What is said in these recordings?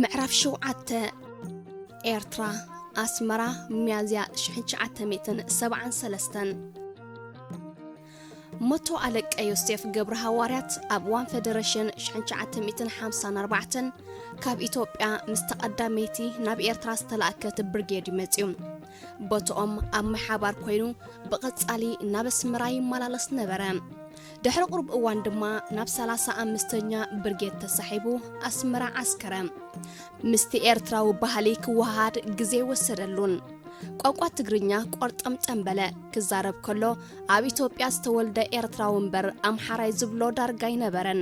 ምዕራፍ ሸውዓተ ኤርትራ ኣስመራ ሚያዝያ 1973 መቶ ኣለቀ ዮሴፍ ገብረ ሃዋርያት ኣብ እዋን ፌደሬሽን 1954 ካብ ኢትዮጵያ ምስ ተቐዳመይቲ ናብ ኤርትራ ዝተላእከት ብርጌድ ይመፅዩ ቦትኦም ኣብ ምሓባር ኮይኑ ብቐጻሊ ናብ ኣስመራ ይመላለስ ነበረ ድሕሪ ቁሩብ እዋን ድማ ናብ ሰላሳ ኣምስተኛ ብርጌድ ተሳሒቡ ኣስመራ ዓስከረ። ምስቲ ኤርትራዊ ባህሊ ክወሃሃድ ግዜ ኣይወሰደሉን። ቋንቋ ትግርኛ ቆርጠምጠም በለ። ክዛረብ ከሎ ኣብ ኢትዮጵያ ዝተወልደ ኤርትራዊ እምበር ኣምሓራይ ዝብሎ ዳርጋ ኣይነበረን።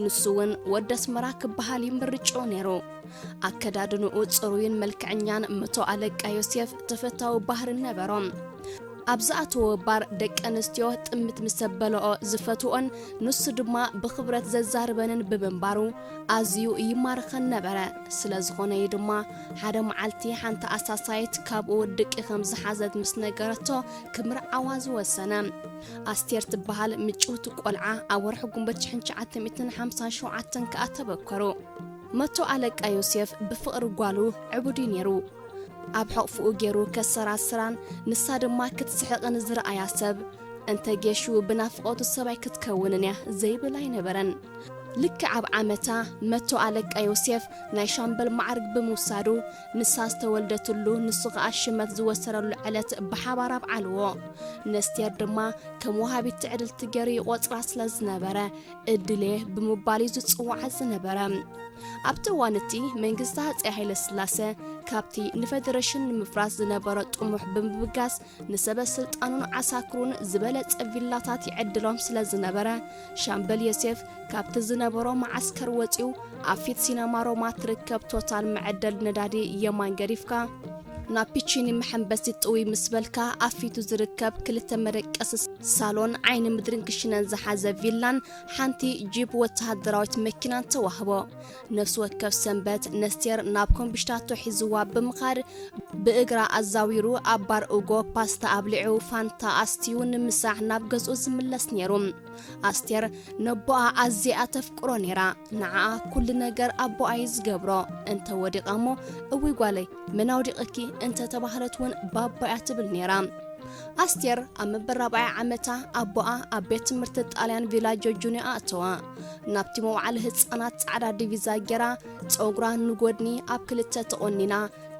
ንሱ'ውን ወዲ ኣስመራ ክበሃል እዩ ምርጭኡ ነይሩ። ኣከዳድንኡ ጽሩይን መልክዐኛን መቶ ኣለቃ ዮሴፍ ተፈታዊ ባህርን ነበሮ። ኣብ ዝኣተዎ ባር ደቂ ኣንስትዮ ጥምት ምስ ዘበለኦ ዝፈትወኦን ንሱ ድማ ብኽብረት ዘዛርበንን ብምንባሩ ኣዝዩ ይማርኸን ነበረ። ስለ ዝኾነ እዩ ድማ ሓደ መዓልቲ ሓንቲ ኣሳሳይት ካብኡ ድቂ ከም ዝሓዘት ምስ ነገረቶ ክምርዓዋ ዝወሰነ። ኣስቴር ትበሃል ምጭውቲ ቆልዓ ኣብ ወርሒ ጉንበት ሽሕን ትሽዓተ ሚእትን ሓምሳን ሸውዓተን ከኣ ተበከሩ። መቶ ኣለቃ ዮሴፍ ብፍቕሪ ጓሉ ዕቡድ'ዩ ነይሩ። ኣብ ሕቕፍኡ ገይሩ ከሰራስራን ንሳ ድማ ክትስሕቕን ዝረኣያ ሰብ፣ እንተ ጌሹ ብናፍቖቱ ሰብኣይ ክትከውንን'ያ ዘይብል ኣይነበረን። ልክዕ ኣብ ዓመታ፣ መቶ ኣለቃ ዮሴፍ ናይ ሻምበል መዓርግ ብምውሳዱ፣ ንሳ ዝተወልደትሉ ንሱ ከኣ ሽመት ዝወሰደሉ ዕለት ብሓባር ኣብዓልዎ። ነስቴር ድማ ከም ወሃቢት ትዕድልቲ ገይሩ ይቖጽራ ስለ ዝነበረ፣ እድሌ ብምባል እዩ ዝጽዋዓ ዝነበረ። ኣብቲ እዋን እቲ መንግስቲ ሃፀይ ሃይለስላሰ ካብቲ ንፈደረሽን ንምፍራስ ዝነበሮ ጥሙሕ ብምብጋስ ንሰበ ስልጣኑን ዓሳክሩን ዝበለጸ ቪላታት ይዕድሎም ስለ ዝነበረ ሻምበል ዮሴፍ ካብቲ ዝነበሮ መዓስከር ወፂኡ ኣብ ፊት ሲነማ ሮማ ትርከብ ቶታል መዐደል ነዳዲ የማን ገዲፍካ ናብ ፒቺኒ መሐምበሲት ጥውይ ምስ በልካ ኣብ ፊቱ ዝርከብ ክልተ መደቀሲ ሳሎን፣ ዓይኒ ምድሪን ክሽነን ዝሓዘ ቪላን ሓንቲ ጂፕ ወተሃደራዊት መኪናን ተዋህቦ። ነፍሲ ወከፍ ሰንበት ነስቴር ናብ ኮምብሽታቶ ሒዝዋ ብምኻድ ብእግራ ኣዛዊሩ ኣብ ባር ኡጎ ፓስታ ኣብሊዑ ፋንታ ኣስትዩ ንምሳሕ ናብ ገዝኡ ዝምለስ ነይሩ። ኣስቴር ነቦኣ ኣዚያ ተፍቅሮ ነይራ ንዓኣ ኩሉ ነገር ኣቦኣ እዩ ዝገብሮ እንተ ወዲቓ እሞ እውይ ጓለይ መን ኣውዲቕኪ እንተ ተባህለት እውን ባባ እያ ትብል ነይራ ኣስቴር ኣብ መበራብዓይ ዓመታ ኣቦኣ ኣብ ቤት ትምህርቲ ጣልያን ቪላጆ ጁንያ ኣእተዋ ናብቲ መውዓሊ ህፃናት ፃዕዳ ዲቪዛ ጌራ ፀጉራ ንጎድኒ ኣብ ክልተ ተቖኒና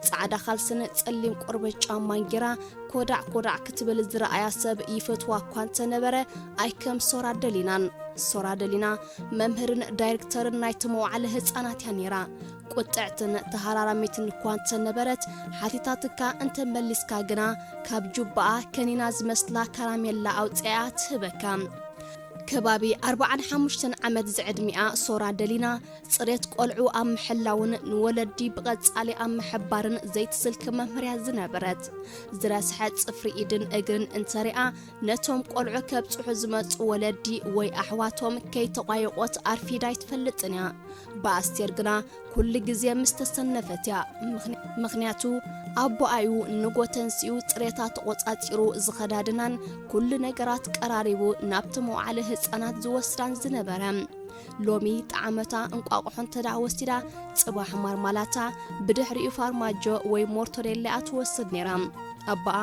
ጻዕዳ ኻልስን ጸሊም ቆርበት ጫማን ጌራ ኮዳዕ ኮዳዕ ክትብል ዝረኣያ ሰብ ይፈትዋ እኳ እንተነበረ ኣይከም ሶራ ደሊናን ሶራ ደሊና መምህርን ዳይሬክተርን ናይቲ መዋዕለ ህፃናት እያ ነይራ ቁጥዕትን ተሃራራሚትን እኳ እንተነበረት ሓቲታትካ እንተመሊስካ ግና ካብ ጁባኣ ከኒና ዝመስላ ካራሜላ ኣውፅኣ ትህበካ ከባቢ ኣርባዓን ሓሙሽተን ዓመት ዝዕድሚኣ ሶራ ደሊና ጽሬት ቆልዑ ኣብ ምሕላውን ንወለዲ ብቐጻሊ ኣብ ምሕባርን ዘይትስልኪ መምህርያ ዝነበረት ዝረስሐ ጽፍሪ ኢድን እግርን እንተሪኣ ነቶም ቆልዑ ከብጽሑ ዝመጹ ወለዲ ወይ ኣሕዋቶም ከይተቋየቖት ኣርፊዳ ኣይትፈልጥን እያ ብኣስቴር ግና ኩሉ ግዜ ምስ ተሰነፈት እያ ምኽንያቱ ኣቦኣዩ ንጎተንስኡ ጽሬታ ተቖጻጺሩ ዝኸዳድናን ኩሉ ነገራት ቀራሪቡ ናብቲ መውዓሊ ህፃናት ዝወስዳን ዝነበረ ሎሚ ጣዕመታ እንቋቑሖ እንተደኣ ወሲዳ ጽባሕ ማርማላታ ብድሕሪኡ ፋርማጆ ወይ ሞርቶሬላ'ያ ትወስድ ነይራ። ኣቦኣ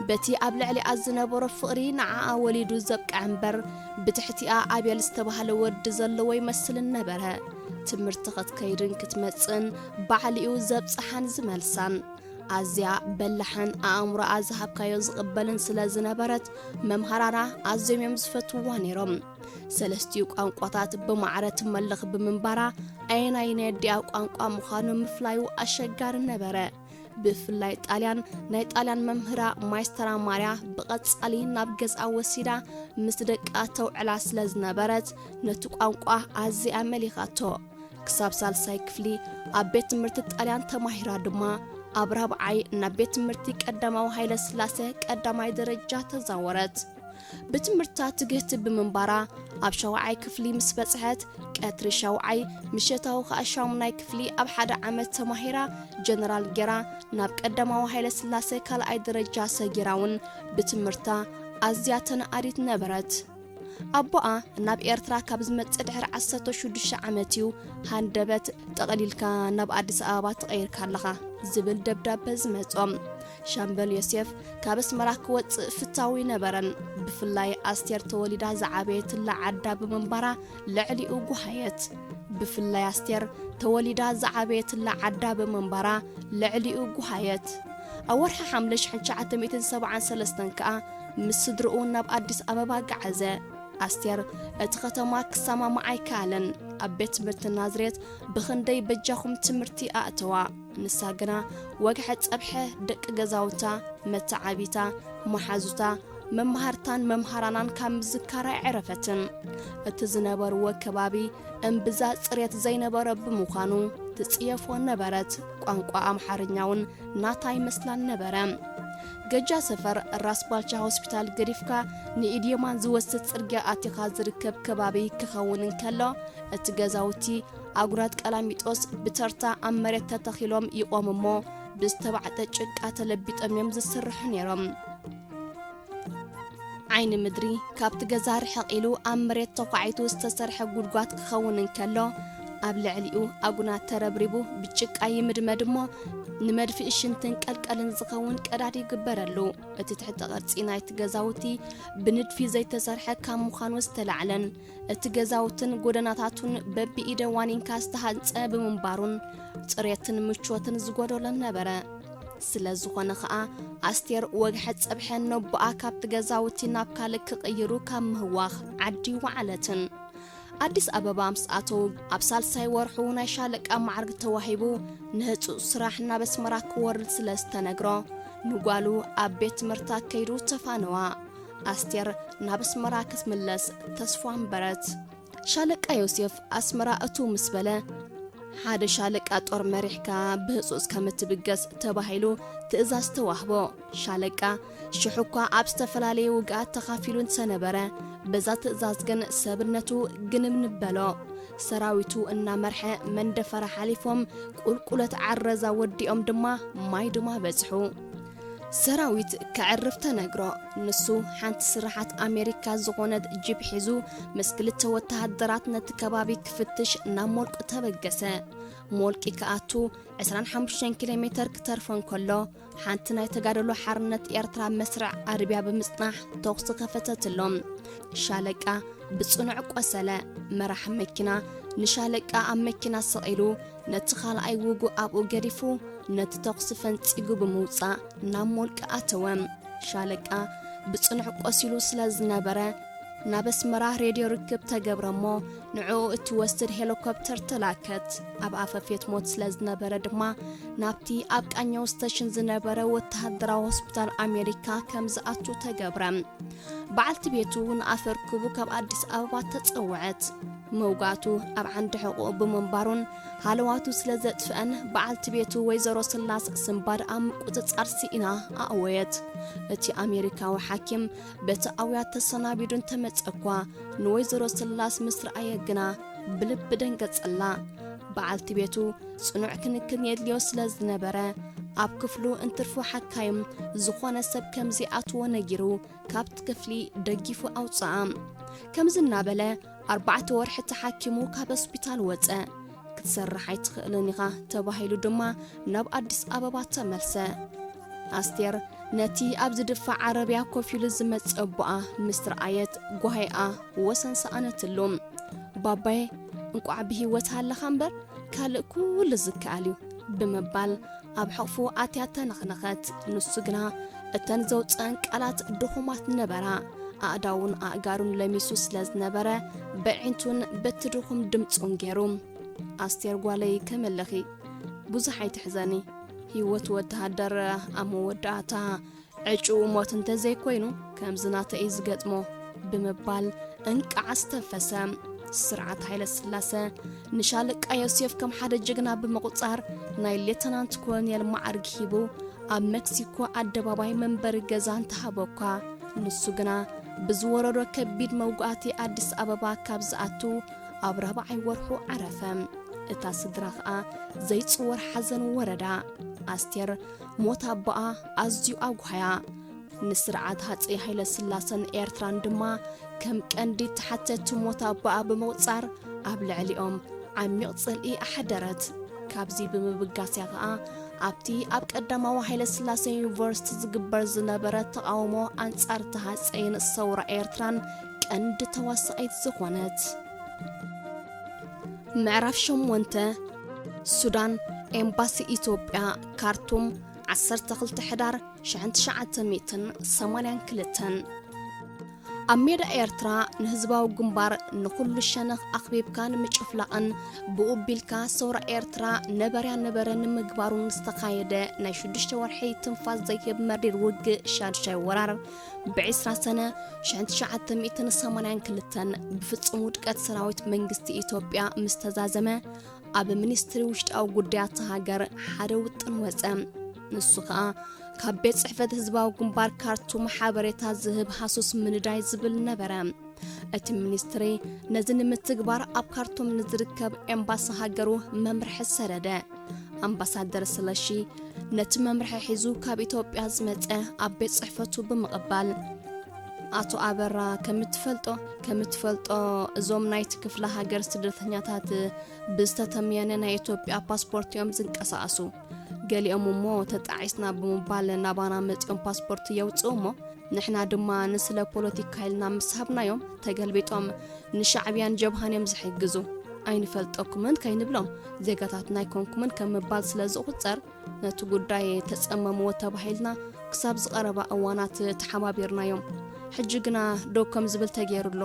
በቲ ኣብ ልዕሊኣ ዝነበሮ ፍቕሪ ንዓኣ ወሊዱ ዘብቅዐ እምበር ብትሕቲኣ ኣቤል ዝተባህለ ወዲ ዘለዎ ይመስልን ነበረ። ትምህርቲ ክትከይድን ክትመጽእን ባዕሉ'ዩ ዘብጽሓን ዝመልሳን። ኣዝያ በላሕን ኣእምሮኣ ዝሃብካዮ ዝቕበልን ስለ ዝነበረት መምሃራና ኣዝዮም እዮም ዝፈትውዋ ነይሮም። ሰለስቲኡ ቋንቋታት ብማዕረ ትመልኽ ብምንባራ ኣየናይ ናይ ኣዲኣ ቋንቋ ምዃኑ ምፍላዩ ኣሸጋሪ ነበረ ብፍላይ ጣልያን ናይ ጣልያን መምህራ ማይስተራ ማርያ ብቐጻሊ ናብ ገዝኣ ወሲዳ ምስ ደቃ ተውዕላ ስለ ዝነበረት ነቲ ቋንቋ ኣዝያ መሊኻቶ ክሳብ ሳልሳይ ክፍሊ ኣብ ቤት ትምህርቲ ጣልያን ተማሂራ ድማ ኣብ ራብዓይ ናብ ቤት ትምህርቲ ቀዳማዊ ሃይለ ስላሴ ቀዳማይ ደረጃ ተዛወረት ብትምህርታ ትግህቲ ብምንባራ ኣብ ሻውዓይ ክፍሊ ምስ በጽሐት ቀትሪ ሻውዓይ ምሸታዊ ከኣ ሻሙናይ ክፍሊ ኣብ ሓደ ዓመት ተማሂራ ጀነራል ጌራ ናብ ቀዳማዊ ሃይለ ስላሴ ካልኣይ ደረጃ ሰጊራ እውን ብትምህርታ ኣዝያ ተነኣዲት ነበረት። ኣቦኣ ናብ ኤርትራ ካብ ዝመጽእ ድሕሪ ዓሰርተ ሽዱሽተ ዓመት እዩ ሃንደበት ጠቕሊልካ ናብ ኣዲስ ኣበባ ተቐይርካ ኣለኻ ዝብል ደብዳበ ዝመጾም። ሻምበል ዮሴፍ ካብ ኣስመራ ክወጽእ ፍታው ይነበረን ብፍላይ ኣስቴር ተወሊዳ ዝዓበየትላ ዓዳ ብምንባራ ልዕሊኡ ጉሃየት ብፍላይ ኣስቴር ተወሊዳ ዝዓበየትላ ዓዳ ብምንባራ ልዕሊኡ ጉሃየት ኣብ ወርሒ ሓምለ 1973 ከኣ ምስ ስድርኡ ናብ ኣዲስ ኣበባ ገዓዘ። ኣስቴር እቲ ኸተማ ክሰማማዕ ኣይከኣለን። ኣብ ቤት ትምህርቲ ናዝሬት ብኽንደይ በጃኹም ትምህርቲ ኣእተዋ። ንሳ ግና ወግሐ ጸብሐ ደቂ ገዛውታ፣ መተዓብይታ፣ መሓዙታ፣ መማህርታን መምሃራናን ካብ ምዝካር ኣይዐረፈትን። እቲ ዝነበርዎ ከባቢ እምብዛ ጽሬት ዘይነበሮ ብምዃኑ ትጽየፎ ነበረት፣ ቋንቋ ኣምሓርኛውን ናታ ኣይመስላን ነበረ። ገጃ ሰፈር ራስ ባልቻ ሆስፒታል ገዲፍካ ንኢድ የማን ዝወስድ ጽርግያ ኣቲኻ ዝርከብ ከባቢ ክኸውን እንከሎ እቲ ገዛውቲ ኣጉራት ቀላሚጦስ ብተርታ ኣብ መሬት ተተኺሎም ይቖሙ እሞ ብዝተባዕጠ ጭቃ ተለቢጦም እዮም ዝስርሑ ነይሮም። ዓይኒ ምድሪ ካብቲ ገዛ ርሕቕ ኢሉ ኣብ መሬት ተዃዒቱ ዝተሰርሐ ጉድጓት ክኸውን እንከሎ ኣብ ልዕሊኡ ኣጉናት ተረብሪቡ ብጭቃ ይምድመድ እሞ ንመድፍኢ ሽንትን ቀልቀልን ዝኸውን ቀዳድ ይግበረሉ እቲ ትሕተ ቕርፂ ናይቲ ገዛውቲ ብንድፊ ዘይተሰርሐ ካብ ምዃኑ ዝተላዕለን እቲ ገዛውትን ጎደናታቱን በቢኢደ ዋኒንካ ዝተሃንፀ ብምንባሩን ፅሬትን ምቾትን ዝጎደሎን ነበረ። ስለ ዝኾነ ኸኣ ኣስቴር ወግሐ ጸብሐ ነቦኣ ካብቲ ገዛውቲ ናብ ካልእ ክቕይሩ ካብ ምህዋኽ ዓዲ ወዓለትን ኣዲስ ኣበባ ምስ ኣተው ኣብ ሳልሳይ ወርሑ ናይ ሻለቃ ማዕርግ ተዋሂቡ ንህፁፅ ስራሕ ናብ ኣስመራ ክወርድ ስለ ዝተነግሮ ንጓሉ ኣብ ቤት ትምህርቲ ኣከይዱ ተፋነዋ ኣስቴር ናብ ኣስመራ ክትምለስ ተስፋ ኣንበረት። ሻለቃ ዮሴፍ ኣስመራ እትው ምስ በለ፣ ሓደ ሻለቃ ጦር መሪሕካ ብህጹጽ ከም እትብገስ ተባሂሉ ትእዛዝ ተዋህቦ። ሻለቃ ሽሕ እኳ ኣብ ዝተፈላለየ ውግኣት ተኻፊሉ እንተነበረ፣ በዛ ትእዛዝ ግን ሰብነቱ ግንብንብ በሎ። ሰራዊቱ እናመርሐ መንደፈራ ሓሊፎም ቁልቁለት ዓረዛ ወዲኦም ድማ ማይዱማ በጽሑ። ሰራዊት ከዕርፍ ተነግሮ። ንሱ ሓንቲ ስርሓት ኣሜሪካ ዝኾነት ጂፕ ሒዙ ምስ ክልተ ወተሃደራት ነቲ ከባቢ ክፍትሽ ናብ ሞልቂ ተበገሰ። ሞልቂ ክኣቱ 25 ኪሎ ሜተር ክተርፎ እንከሎ ሓንቲ ናይ ተጋደሎ ሓርነት ኤርትራ መስርዕ ኣርብያ ብምጽናሕ ተኹሲ ከፈተትሎም። ሻለቃ ብጽኑዕ ቆሰለ። መራሒ መኪና ንሻለቃ ኣብ መኪና ሰቒሉ ነቲ ኻልኣይ ውጉእ ኣብኡ ገዲፉ ነቲ ተኹሲ ፈንጺጉ ብምውጻእ ናብ ሞልቂ ኣተወ። ሻለቃ ብጽኑዕ ቆሲሉ ስለ ዝነበረ ናብ ኣስመራ ሬድዮ ርክብ ተገብረ እሞ ንዕኡ እትወስድ ሄሊኮፕተር ተላከት። ኣብ ኣፈፌት ሞት ስለ ዝነበረ ድማ ናብቲ ኣብ ቃኘው ስተሽን ዝነበረ ወተሃደራዊ ሆስፒታል ኣሜሪካ ከም ዝኣቱ ተገብረ። በዓልቲ ቤቱ ንኣፈ ርክቡ ካብ ኣዲስ ኣበባ ተጸውዐት። መውጋቱ ኣብ ዓንዲ ሕቖኡ ብምንባሩን ሃለዋቱ ስለ ዘጥፍአን በዓልቲ ቤቱ ወይዘሮ ስላስ ስንባድ ኣብ ምቁጽጻር ስኢና ኣእወየት። እቲ ኣሜሪካዊ ሓኪም በቲ ኣውያት ተሰናቢዱ እንተመጸ እኳ ንወይዘሮ ስላስ ምስ ረኣየ ግና ብልቢ ደንገጸላ። በዓልቲ ቤቱ ጽኑዕ ክንክን የድልዮ ስለ ዝነበረ ኣብ ክፍሉ እንትርፉ ሓካይም ዝኾነ ሰብ ከም ዘይኣትዎ ነጊሩ ካብቲ ክፍሊ ደጊፉ ኣውጽኣ ከምዚ እናበለ ኣርባዕተ ወርሒ ተሓኪሙ ካብ ሆስፒታል ወጸ ክትሰርሕ ኣይትኽእልን ኢኻ ተባሂሉ ድማ ናብ ኣዲስ ኣበባ ተመልሰ ኣስቴር ነቲ ኣብ ዝድፋእ ዓረብያ ኮፍ ኢሉ ዝመጽእ ኣቦኣ ምስ ረኣየት ጓሂኣ ወሰን ሰኣነትሉ። ባባየ እንቋዕ ብህይወት ሃለኻ እምበር ካልእ ኩሉ ዝከኣል እዩ ብምባል ኣብ ሕቕፉ ኣትያ ተነኽነኸት። ንሱ ግና እተን ዘውፅአን ቃላት ድኹማት ነበራ። ኣእዳውን ኣእጋሩን ለሚሱ ስለ ዝነበረ በዒንቱን በቲ ድኹም ድምፁን ገይሩ ኣስቴር ጓለይ ከመለኺ ብዙሕ ኣይትሕዘኒ ህይወት ወተሃደር ኣብ መወዳእታ ዕጩኡ ሞት እንተዘይኮይኑ ከምዚ ናተይ እዩ ዝገጥሞ ብምባል እንቃዕ ዝተፈሰ ስርዓት ሃይለ ስላሰ ንሻለቃ ዮሴፍ ከም ሓደ ጅግና ብምቑጻር ናይ ሌተናንት ኮሎኔል ማዕርግ ሂቡ ኣብ ሜክሲኮ ኣደባባይ መንበሪ ገዛ እንተሃቦ እኳ ንሱ ግና ብዝወረዶ ከቢድ መውጋእቲ ኣዲስ ኣበባ ካብ ዝኣቱ ኣብ ራብዓይ ወርሑ ዓረፈ። እታ ስድራ ኸኣ ዘይጽወር ሓዘን ወረዳ። ኣስቴር ሞት ኣቦኣ ኣዝዩ ኣጕሃያ። ንስርዓት ሃጸይ ሃይለስላሰን ኤርትራን ድማ ከም ቀንዲ ተሓተቲ ሞት ኣቦኣ ብምቝጻር ኣብ ልዕሊኦም ዓሚቕ ጽልኢ ኣሕደረት። ካብዚ ብምብጋስ'ያ ኸኣ ኣብቲ ኣብ ቀዳማዊ ሃይለስላሰ ዩኒቨርሲቲ ዝግበር ዝነበረ ተቓውሞ ኣንጻር'ቲ ሃጸይን ሰውራ ኤርትራን ቀንዲ ተዋሳኢት ዝኾነት ምዕራፍ ሸሞንተ ሱዳን ኤምባሲ ኢትዮጵያ ካርቱም 12 ሕዳር 1982 ኣብ ሜዳ ኤርትራ ንህዝባዊ ግንባር ንኹሉ ሸነኽ ኣኽቢብካ ንምጭፍላቕን ብኡ ቢልካ ሰውራ ኤርትራ ነበርያ ነበረ ንምግባሩን ዝተኻየደ ናይ ሽዱሽተ ወርሒ ትንፋስ ዘይህብ መሪር ውግእ ሻድሻይ ወራር ብዕስራ ሰነ ሽሕን ትሽዓተ ሚእትን ሰማንያን ክልተን ብፍጹም ውድቀት ሰራዊት መንግስቲ ኢትዮጵያ ምስ ተዛዘመ ኣብ ሚኒስትሪ ውሽጣዊ ጉዳያት ሃገር ሓደ ውጥን ወፀ ንሱ ከዓ ካብ ቤት ጽሕፈት ህዝባዊ ግንባር ካርቱም ሓበሬታ ዝህብ ሃሱስ ምንዳይ ዝብል ነበረ እቲ ሚኒስትሪ ነዚ ንምትግባር ኣብ ካርቱም ንዝርከብ ኤምባሲ ሃገሩ መምርሒ ሰደደ ኣምባሳደር ስለሺ ነቲ መምርሒ ሒዙ ካብ ኢትዮጵያ ዝመጸ ኣብ ቤት ጽሕፈቱ ብምቕባል ኣቶ ኣበራ ከምትፈልጦ ከምትፈልጦ እዞም ናይቲ ክፍለ ሃገር ስደተኛታት ብዝተተምየነ ናይ ኢትዮጵያ ፓስፖርት እዮም ዝንቀሳቐሱ ገሊኦም እሞ ተጣዒስና ብምባል ናባና መፂኦም ፓስፖርት የውፅኡ እሞ ንሕና ድማ ንስለ ፖለቲካ ኢልና ምስ ሃብናዮም ተገልቢጦም ንሻዕብያን ጀብሃን እዮም ዝሕግዙ ኣይንፈልጠኩምን ከይንብሎም ዜጋታትና ኣይኮንኩምን ከም ምባል ስለ ዝቑፀር ነቲ ጉዳይ ተፀመምዎ ተባሂልና ክሳብ ዝቐረባ እዋናት ተሓባቢርናዮም ሕጂ ግና ደው ከም ዝብል ተገይሩ ኣሎ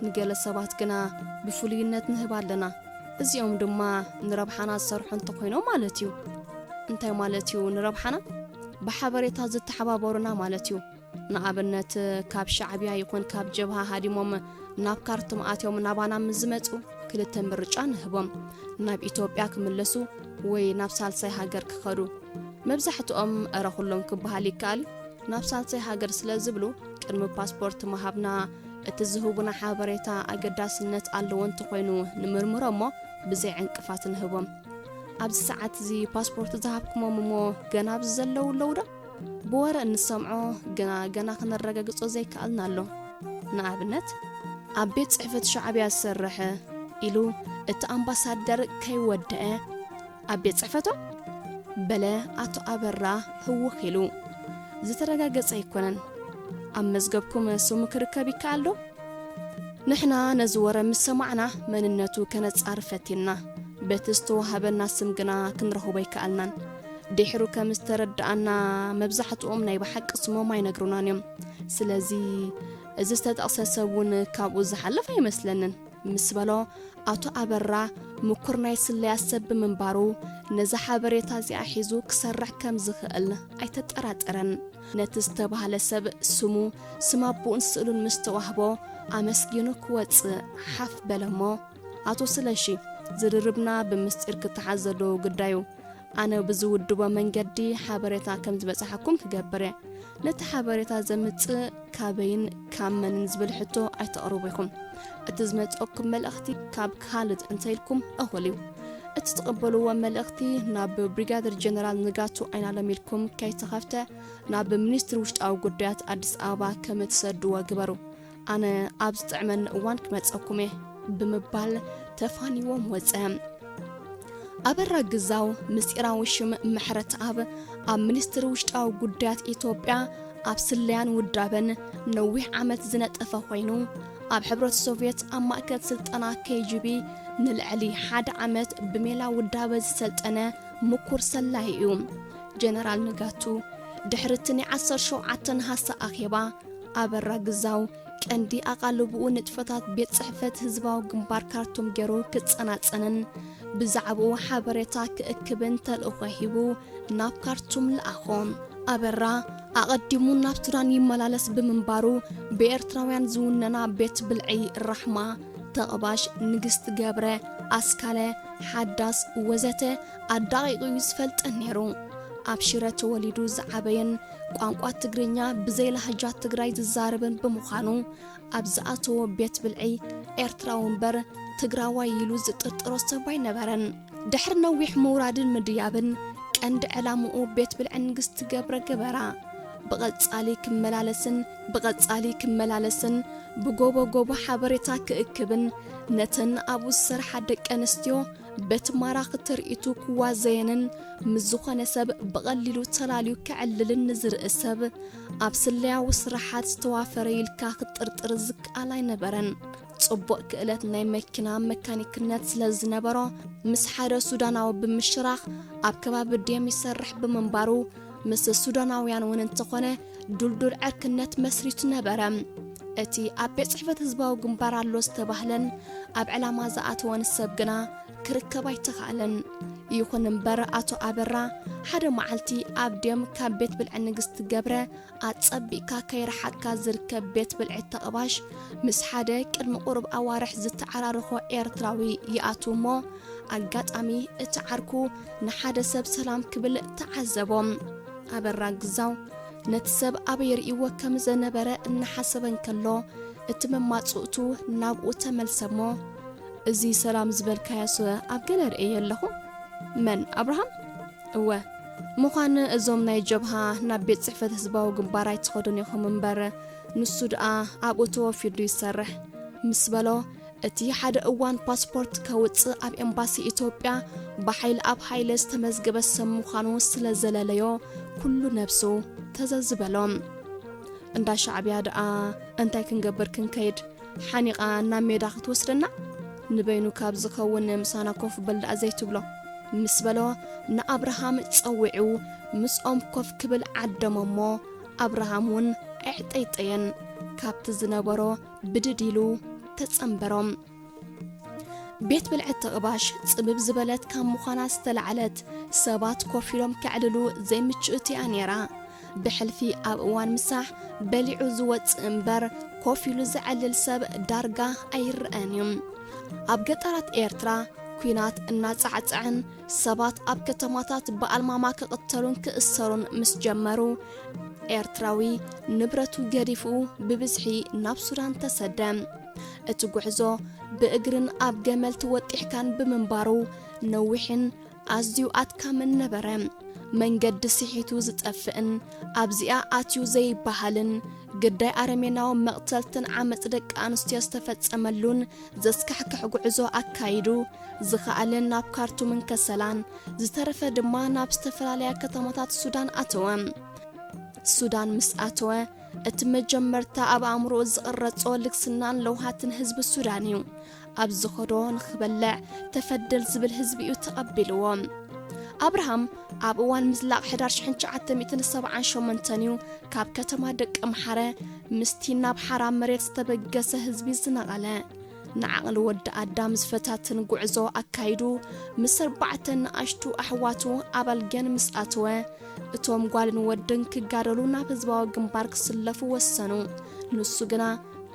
ንገለ ሰባት ግና ብፍሉይነት ንህብ ኣለና እዚኦም ድማ ንረብሓና ዝሰርሑ እንተኾይኖም ማለት እዩ። እንታይ ማለት እዩ ንረብሓና? ብሓበሬታ ዝተሓባበሩና ማለት እዩ። ንኣብነት ካብ ሻዕብያ ይኹን ካብ ጀብሃ ሃዲሞም ናብ ካርቱም ኣትዮም ናባና ምስ ዝመፁ ክልተ ምርጫ ንህቦም፣ ናብ ኢትዮጵያ ክምለሱ ወይ ናብ ሳልሳይ ሃገር ክኸዱ። መብዛሕትኦም እረ ኩሎም ክበሃል ይከኣል እዩ ናብ ሳልሳይ ሃገር ስለ ዝብሉ ቅድሚ ፓስፖርት ምሃብና እቲ ዝህቡና ሓበሬታ ኣገዳስነት ኣለዎ እንተኾይኑ ንምርምሮ እሞ ብዘይ ዕንቅፋት ንህቦም። ኣብዚ ሰዓት እዚ ፓስፖርት ዝሃብኩሞም እሞ ገና ኣብዚ ዘለዉ ኣለዉ ዶ? ብወረ እንሰምዖ ግና ገና ክነረጋግጾ ዘይከኣልና ኣሎ። ንኣብነት ኣብ ቤት ጽሕፈት ሻዕብያ ዝሰርሕ ኢሉ እቲ ኣምባሳደር ከይወደኣ ኣብ ቤት ጽሕፈቶም? በለ ኣቶ ኣበራ ህውኽ ኢሉ። ዝተረጋገጸ ኣይኮነን። ኣብ መዝገብኩም ስሙ ክርከብ ይከኣል ዶ? ንሕና ነዚ ወረ ምስ ሰማዕና መንነቱ ከነጻር ፈቲንና። በቲ ዝተዋህበና ስም ግና ክንረኽቦ ኣይከኣልናን። ድሕሩ ከም ዝተረዳኣና መብዛሕትኦም ናይ ብሓቂ ስሞም ኣይነግሩናን እዮም። ስለዚ እዚ ዝተጠቕሰ ሰብ እውን ካብኡ ዝሓልፍ ኣይመስለንን። ምስ በሎ፣ ኣቶ ኣበራ ምኩር ናይ ስለያ ሰብ ብምንባሩ፣ ነዛ ሓበሬታ እዚኣ ሒዙ ክሰርሕ ከም ዝኽእል ኣይተጠራጠረን። ነቲ ዝተባህለ ሰብ ስሙ፣ ስም ኣቦኡን ስእሉን ምስ ተዋህቦ፣ ኣመስጊኑ ክወጽእ ሓፍ በለ እሞ፣ ኣቶ ስለሺ፣ ዝርርብና ብምስጢር ክተሓዝ ዘለዎ ግዳይ'ዩ። ኣነ ብዝውድቦ መንገዲ ሓበሬታ ከም ዝበጽሓኩም ክገብር እየ። ነቲ ሓበሬታ ዘምጽእ ካበይን ካብ መንን ዝብል ሕቶ ኣይተቕርቡ ኢኹም። እቲ ዝመጽኦኩም መልእኽቲ ካብ ካልድ እንተ ኢልኩም እኹል እዩ። እቲ ትቕበልዎ መልእኽቲ ናብ ብሪጋደር ጀነራል ንጋቱ ኣይናለም ኢልኩም ከይተኸፍተ ናብ ሚኒስትሪ ውሽጣዊ ጉዳያት ኣዲስ ኣበባ ከም እትሰድዎ ግበሩ። ኣነ ኣብ ዝጥዕመኒ እዋን ክመጸኩም እየ ብምባል ተፋኒዎም ወጸ። ኣበራ ግዛው ምስጢራዊ ሽም ምሕረትኣብ ኣብ ሚኒስትሪ ውሽጣዊ ጉዳያት ኢትዮጵያ ኣብ ስለያን ውዳበን ነዊሕ ዓመት ዝነጠፈ ኮይኑ ኣብ ሕብረት ሶቭየት ኣብ ማእከል ስልጠና ኬጂቢ ንልዕሊ ሓደ ዓመት ብሜላ ውዳበ ዝሰልጠነ ምኩር ሰላይ እዩ ጀነራል ንጋቱ ድሕሪ እቲ ናይ 17 ነሓሰ ኣኼባ ኣበራ ግዛው ቀንዲ ኣቓልብኡ ንጥፈታት ቤት ጽሕፈት ህዝባዊ ግንባር ካርቱም ገይሩ ክጸናጸንን ብዛዕባኡ ሓበሬታ ክእክብን ተልእኾ ሂቡ ናብ ካርቱም ለኣኾ። ኣበራ ኣቐዲሙ ናብ ሱዳን ይመላለስ ብምንባሩ ብኤርትራውያን ዝውነና ቤት ብልዒ ራሕማ፣ ተቕባሽ፣ ንግስቲ ገብረ፣ ኣስካለ፣ ሓዳስ ወዘተ ኣዳቒቑ እዩ ዝፈልጠን ነይሩ። ኣብ ሽረ ተወሊዱ ዝዓበየን ቋንቋ ትግርኛ ብዘይ ላህጃ ትግራይ ዝዛረብን ብምዃኑ ኣብ ዝኣተዎ ቤት ብልዒ ኤርትራዊ እምበር ትግራዋይ ኢሉ ዝጥርጥሮ ሰብ ኣይነበረን ድሕሪ ነዊሕ ምውራድን ምድያብን ቀንዲ ዕላምኡ ቤት ብልዒ ንግስቲ ገብረ ገበራ ብቐጻሊ ክመላለስን ብቐጻሊ ክመላለስን ብጎቦ ጎቦ ሓበሬታ ክእክብን ነተን ኣብኡ ዝሰርሓ ደቂ ኣንስትዮ በቲ ማራኺ ትርኢቱ ክዋዘየንን ምስ ዝኾነ ሰብ ብቐሊሉ ተላልዩ ከዕልልን ንዝርኢ ሰብ ኣብ ስለያዊ ስራሓት ዝተዋፈረ ኢልካ ክጥርጥር ዝከኣል ኣይነበረን። ጽቡቕ ክእለት ናይ መኪና መካኒክነት ስለ ዝነበሮ ምስ ሓደ ሱዳናዊ ብምሽራኽ ኣብ ከባቢ ዴም ይሰርሕ ብምንባሩ ምስ ሱዳናውያን እውን እንተኾነ ዱልዱል ዕርክነት መስሪቱ ነበረ። እቲ ኣብ ቤት ጽሕፈት ህዝባዊ ግንባር ኣሎ ዝተባህለን ኣብ ዕላማ ዝኣተወን ሰብ ግና ክርከብ ኣይተኻእለን። ይኹን እምበር ኣቶ ኣበራ ሓደ መዓልቲ ኣብ ድም ካብ ቤት ብልዒ ንግስቲ ገብረ ኣጸቢቕካ ከይረሓቕካ ዝርከብ ቤት ብልዒ ተቕባሽ ምስ ሓደ ቅድሚ ቁሩብ ኣዋርሕ ዝተዓራረኾ ኤርትራዊ ይኣትው እሞ ኣጋጣሚ እቲ ዓርኩ ንሓደ ሰብ ሰላም ክብል ተዓዘቦ። ኣበራ ግዛው ነቲ ሰብ ኣበይ ርእይዎ ከም ዘነበረ እናሓሰበ እንከሎ እቲ መማጽእቱ ናብኡ ተመልሰ እሞ እዚ ሰላም ዝበልካዮስ ኣብ ገለ ርእየዮ ኣለኹ? መን ኣብርሃም? እወ ምዃን እዞም ናይ ጀብሃ ናብ ቤት ጽሕፈት ህዝባዊ ግንባር ኣይትኸዱን ኢኹም እምበር ንሱ ድኣ ኣብኡ ተወፊዱ ይሰርሕ ምስ በሎ እቲ ሓደ እዋን ፓስፖርት ከውጽእ ኣብ ኤምባሲ ኢትዮጵያ ብሓይል ኣብ ሓይለ ዝተመዝገበ ሰብ ምዃኑ ስለ ዘለለዮ ኩሉ ነብሱ ተዘዝበሎ እንዳ ሻዕብያ ድኣ እንታይ ክንገብር ክንከይድ ሓኒቓ ናብ ሜዳ ክትወስደና ንበይኑ ካብ ዝኸውን ምሳና ኮፍ በል ደኣ ዘይትብሎ? ምስ በሎ ንኣብርሃም ጸዊዑ ምስኦም ኮፍ ክብል ዓደሞ እሞ ኣብርሃም እውን ኣዕጠይጠየን ካብቲ ዝነበሮ ብድድ ኢሉ ተጸንበሮም። ቤት ብልዕት ተቕባሽ ጽብብ ዝበለት ካብ ምዃና ዝተላዕለት ሰባት ኮፍ ኢሎም ከዕልሉ ዘይምችእቲ እያ ነይራ። ብሕልፊ ኣብ እዋን ምሳሕ በሊዑ ዝወጽእ እምበር ኮፍ ኢሉ ዘዕልል ሰብ ዳርጋ ኣይረኣን እዩ። ኣብ ገጠራት ኤርትራ ኲናት እናጻዕጽዐን ሰባት ኣብ ከተማታት ብኣልማማ ክቕተሉን ክእሰሩን ምስ ጀመሩ ኤርትራዊ ንብረቱ ገዲፉ ብብዝሒ ናብ ሱዳን ተሰደ። እቲ ጉዕዞ ብእግርን ኣብ ገመል ተወጢሕካን ብምንባሩ ነዊሕን ኣዝዩ ኣድካምን ነበረ። መንገዲ ስሒቱ ዝጠፍእን ኣብዚኣ ኣትዩ ዘይበሃልን ግዳይ ኣረሜናዊ መቕተልትን ዓመጽ ደቂ ኣንስትዮ ዝተፈጸመሉን ዘስካሕክሕ ጉዕዞ ኣካይዱ፣ ዝኸኣለ ናብ ካርቱምን ከሰላን ዝተረፈ ድማ ናብ ዝተፈላለያ ከተማታት ሱዳን ኣተወ። ሱዳን ምስ ኣተወ እቲ መጀመርታ ኣብ ኣእምሮኡ ዝቕረጾ ልግስናን ለውሃትን ህዝቢ ሱዳን እዩ። ኣብ ዝኸዶ ንኽበልዕ ተፈደል ዝብል ህዝቢ'ዩ ተቐቢልዎ። ኣብርሃም ኣብ እዋን ምዝላቕ ሕዳር ሽሕን ትሽዓተ ሚእትን ሰብዓን ሸሞንተን'ዩ ካብ ከተማ ደቀምሓረ ምስቲ ናብ ሓራ መሬት ዝተበገሰ ህዝቢ ዝነቐለ። ንዓቕሊ ወዲ ኣዳም ዝፈታትን ጉዕዞ ኣካይዱ ምስ ኣርባዕተ ንኣሽቱ ኣሕዋቱ ኣብ ኣልጌን ምስ ኣተወ እቶም ጓልን ወድን ክጋደሉ ናብ ህዝባዊ ግንባር ክስለፉ ወሰኑ። ንሱ ግና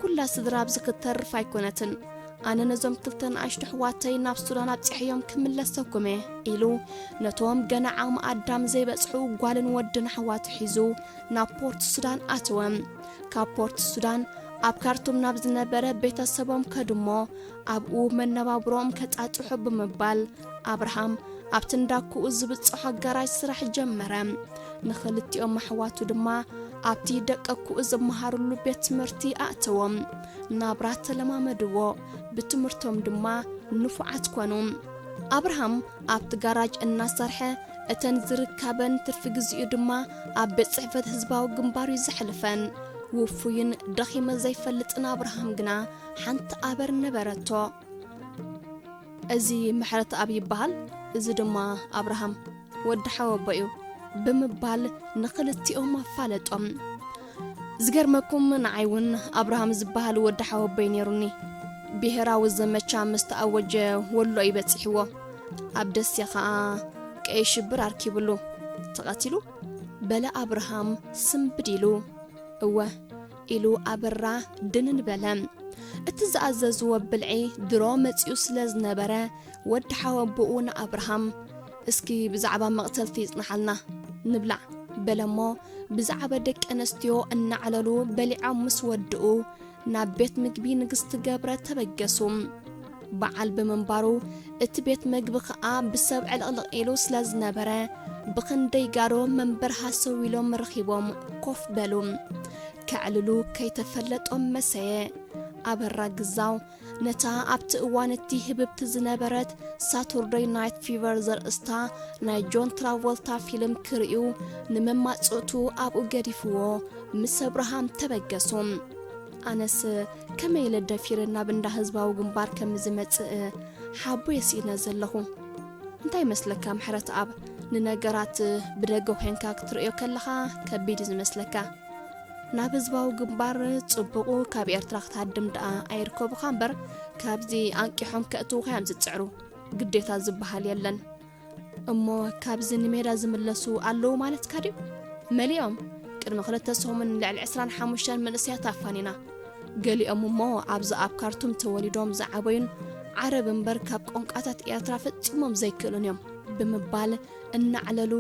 ኩላ ስድራ ኣብዚ ክትተርፍ ኣይኮነትን፣ ኣነ ነዞም ክልተ ንኣሽቱ ኣሕዋተይ ናብ ሱዳን ኣብጺሐዮም ክምለሰኩም እየ ኢሉ ነቶም ገና ዓቕሚ ኣዳም ዘይበጽሑ ጓልን ወድን ኣሕዋቱ ሒዙ ናብ ፖርት ሱዳን ኣተወ። ካብ ፖርት ሱዳን ኣብ ካርቱም ናብ ዝነበረ ቤተሰቦም ከዱሞ ኣብኡ መነባብሮኦም ከጻጽሑ ብምባል ኣብርሃም ኣብቲ እንዳ ኩኡ ዝብጽሖ ኣጋራዥ ስራሕ ጀመረ። ንኽልቲኦም ኣሕዋቱ ድማ ኣብቲ ደቀ ኩኡ ዝመሃርሉ ቤት ትምህርቲ ኣእተዎም። ናብራ ተለማመድዎ፣ ብትምህርቶም ድማ ንፉዓት ኮኑ። ኣብርሃም ኣብቲ ጋራጅ እናሰርሐ እተን ዝርካበን ትርፊ ግዜኡ ድማ ኣብ ቤት ጽሕፈት ህዝባዊ ግንባር እዩ ዘሕልፈን። ውፉይን ደኺመ ዘይፈልጥን ኣብርሃም ግና ሓንቲ ኣበር ነበረቶ። እዚ ምሕረትኣብ ይበሃል፣ እዚ ድማ ኣብርሃም ወዲ ሓወቦ'ዩ ብምባል ንኽልቲኦም ኣፋለጦም። ዝገርመኩም ንዓይ እውን ኣብርሃም ዝበሃል ወዲ ሓወቦይ ነይሩኒ። ብሄራዊ ዘመቻ ምስ ተኣወጀ ወሎ'ዩ በጺሕዎ። ኣብ ደሴ ከኣ ቀይሕ ሽብር ኣርኪብሉ ተቐቲሉ። በለ ኣብርሃም ስምብድ ኢሉ። እወ! ኢሉ ኣበራ ድንን በለ። እቲ ዝኣዘዝዎ ብልዒ ድሮ መጺኡ ስለ ዝነበረ፣ ወዲ ሓወቦኡ ንኣብርሃም፣ እስኪ ብዛዕባ መቕተልቲ ጽንሓልና፣ ንብላዕ፣ በለ'ሞ፣ ብዛዕባ ደቂ ኣንስትዮ እናዕለሉ በሊዖም ምስ ወድኡ፣ ናብ ቤት ምግቢ ንግስቲ ገብረ ተበገሱ። በዓል ብምንባሩ እቲ ቤት መግቢ ኸኣ ብሰብ ዕልቕልቕ ኢሉ ስለ ዝነበረ ብኽንደይ ጋዶ መንበር ሃሰው ኢሎም ረኺቦም ኮፍ በሉ። ከዕልሉ ከይተፈለጦም መሰየ። ኣበራ ግዛው ነታ ኣብቲ እዋን እቲ ህብብቲ ዝነበረት ሳቱርደይ ናይት ፊቨር ዘርእስታ ናይ ጆን ትራቮልታ ፊልም ክርእዩ ንመማጽእቱ ኣብኡ ገዲፍዎ ምስ ኣብርሃም ተበገሱ። ኣነስ ከመይ ኢለ ደፊረ ናብ እንዳ ህዝባዊ ግንባር ከም ዝመጽእ ሓቦየ ስኢነ ዘለኹ። እንታይ ይመስለካ ምሕረትኣብ፣ ንነገራት ብደገ ዄንካ ክትርእዮ ከለኻ ከቢድ እዩ ዝመስለካ። ናብ ህዝባዊ ግንባር ጽቡቑ ካብ ኤርትራ ክትሃድም ደኣ ኣይርከቡኻ እምበር ካብዚ ኣንቂሖም ከእትዉኻ እዮም ዝጽዕሩ። ግዴታ ዝበሃል የለን። እሞ ካብዚ ንሜዳ ዝምለሱ ኣለዉ ማለትካ ድዩ? መሊኦም። ቅድሚ ክልተ ሰሙን ልዕሊ ዕስራን ሓሙሽተን መንእሰያት ኣፋኒና። ገሊኦም እሞ ኣብዚ ኣብ ካርቱም ተወሊዶም ዝዓበዩን ዓረብ እምበር ካብ ቋንቋታት ኤርትራ ፈጺሞም ዘይክእሉን እዮም። ብምባል እናዕለሉ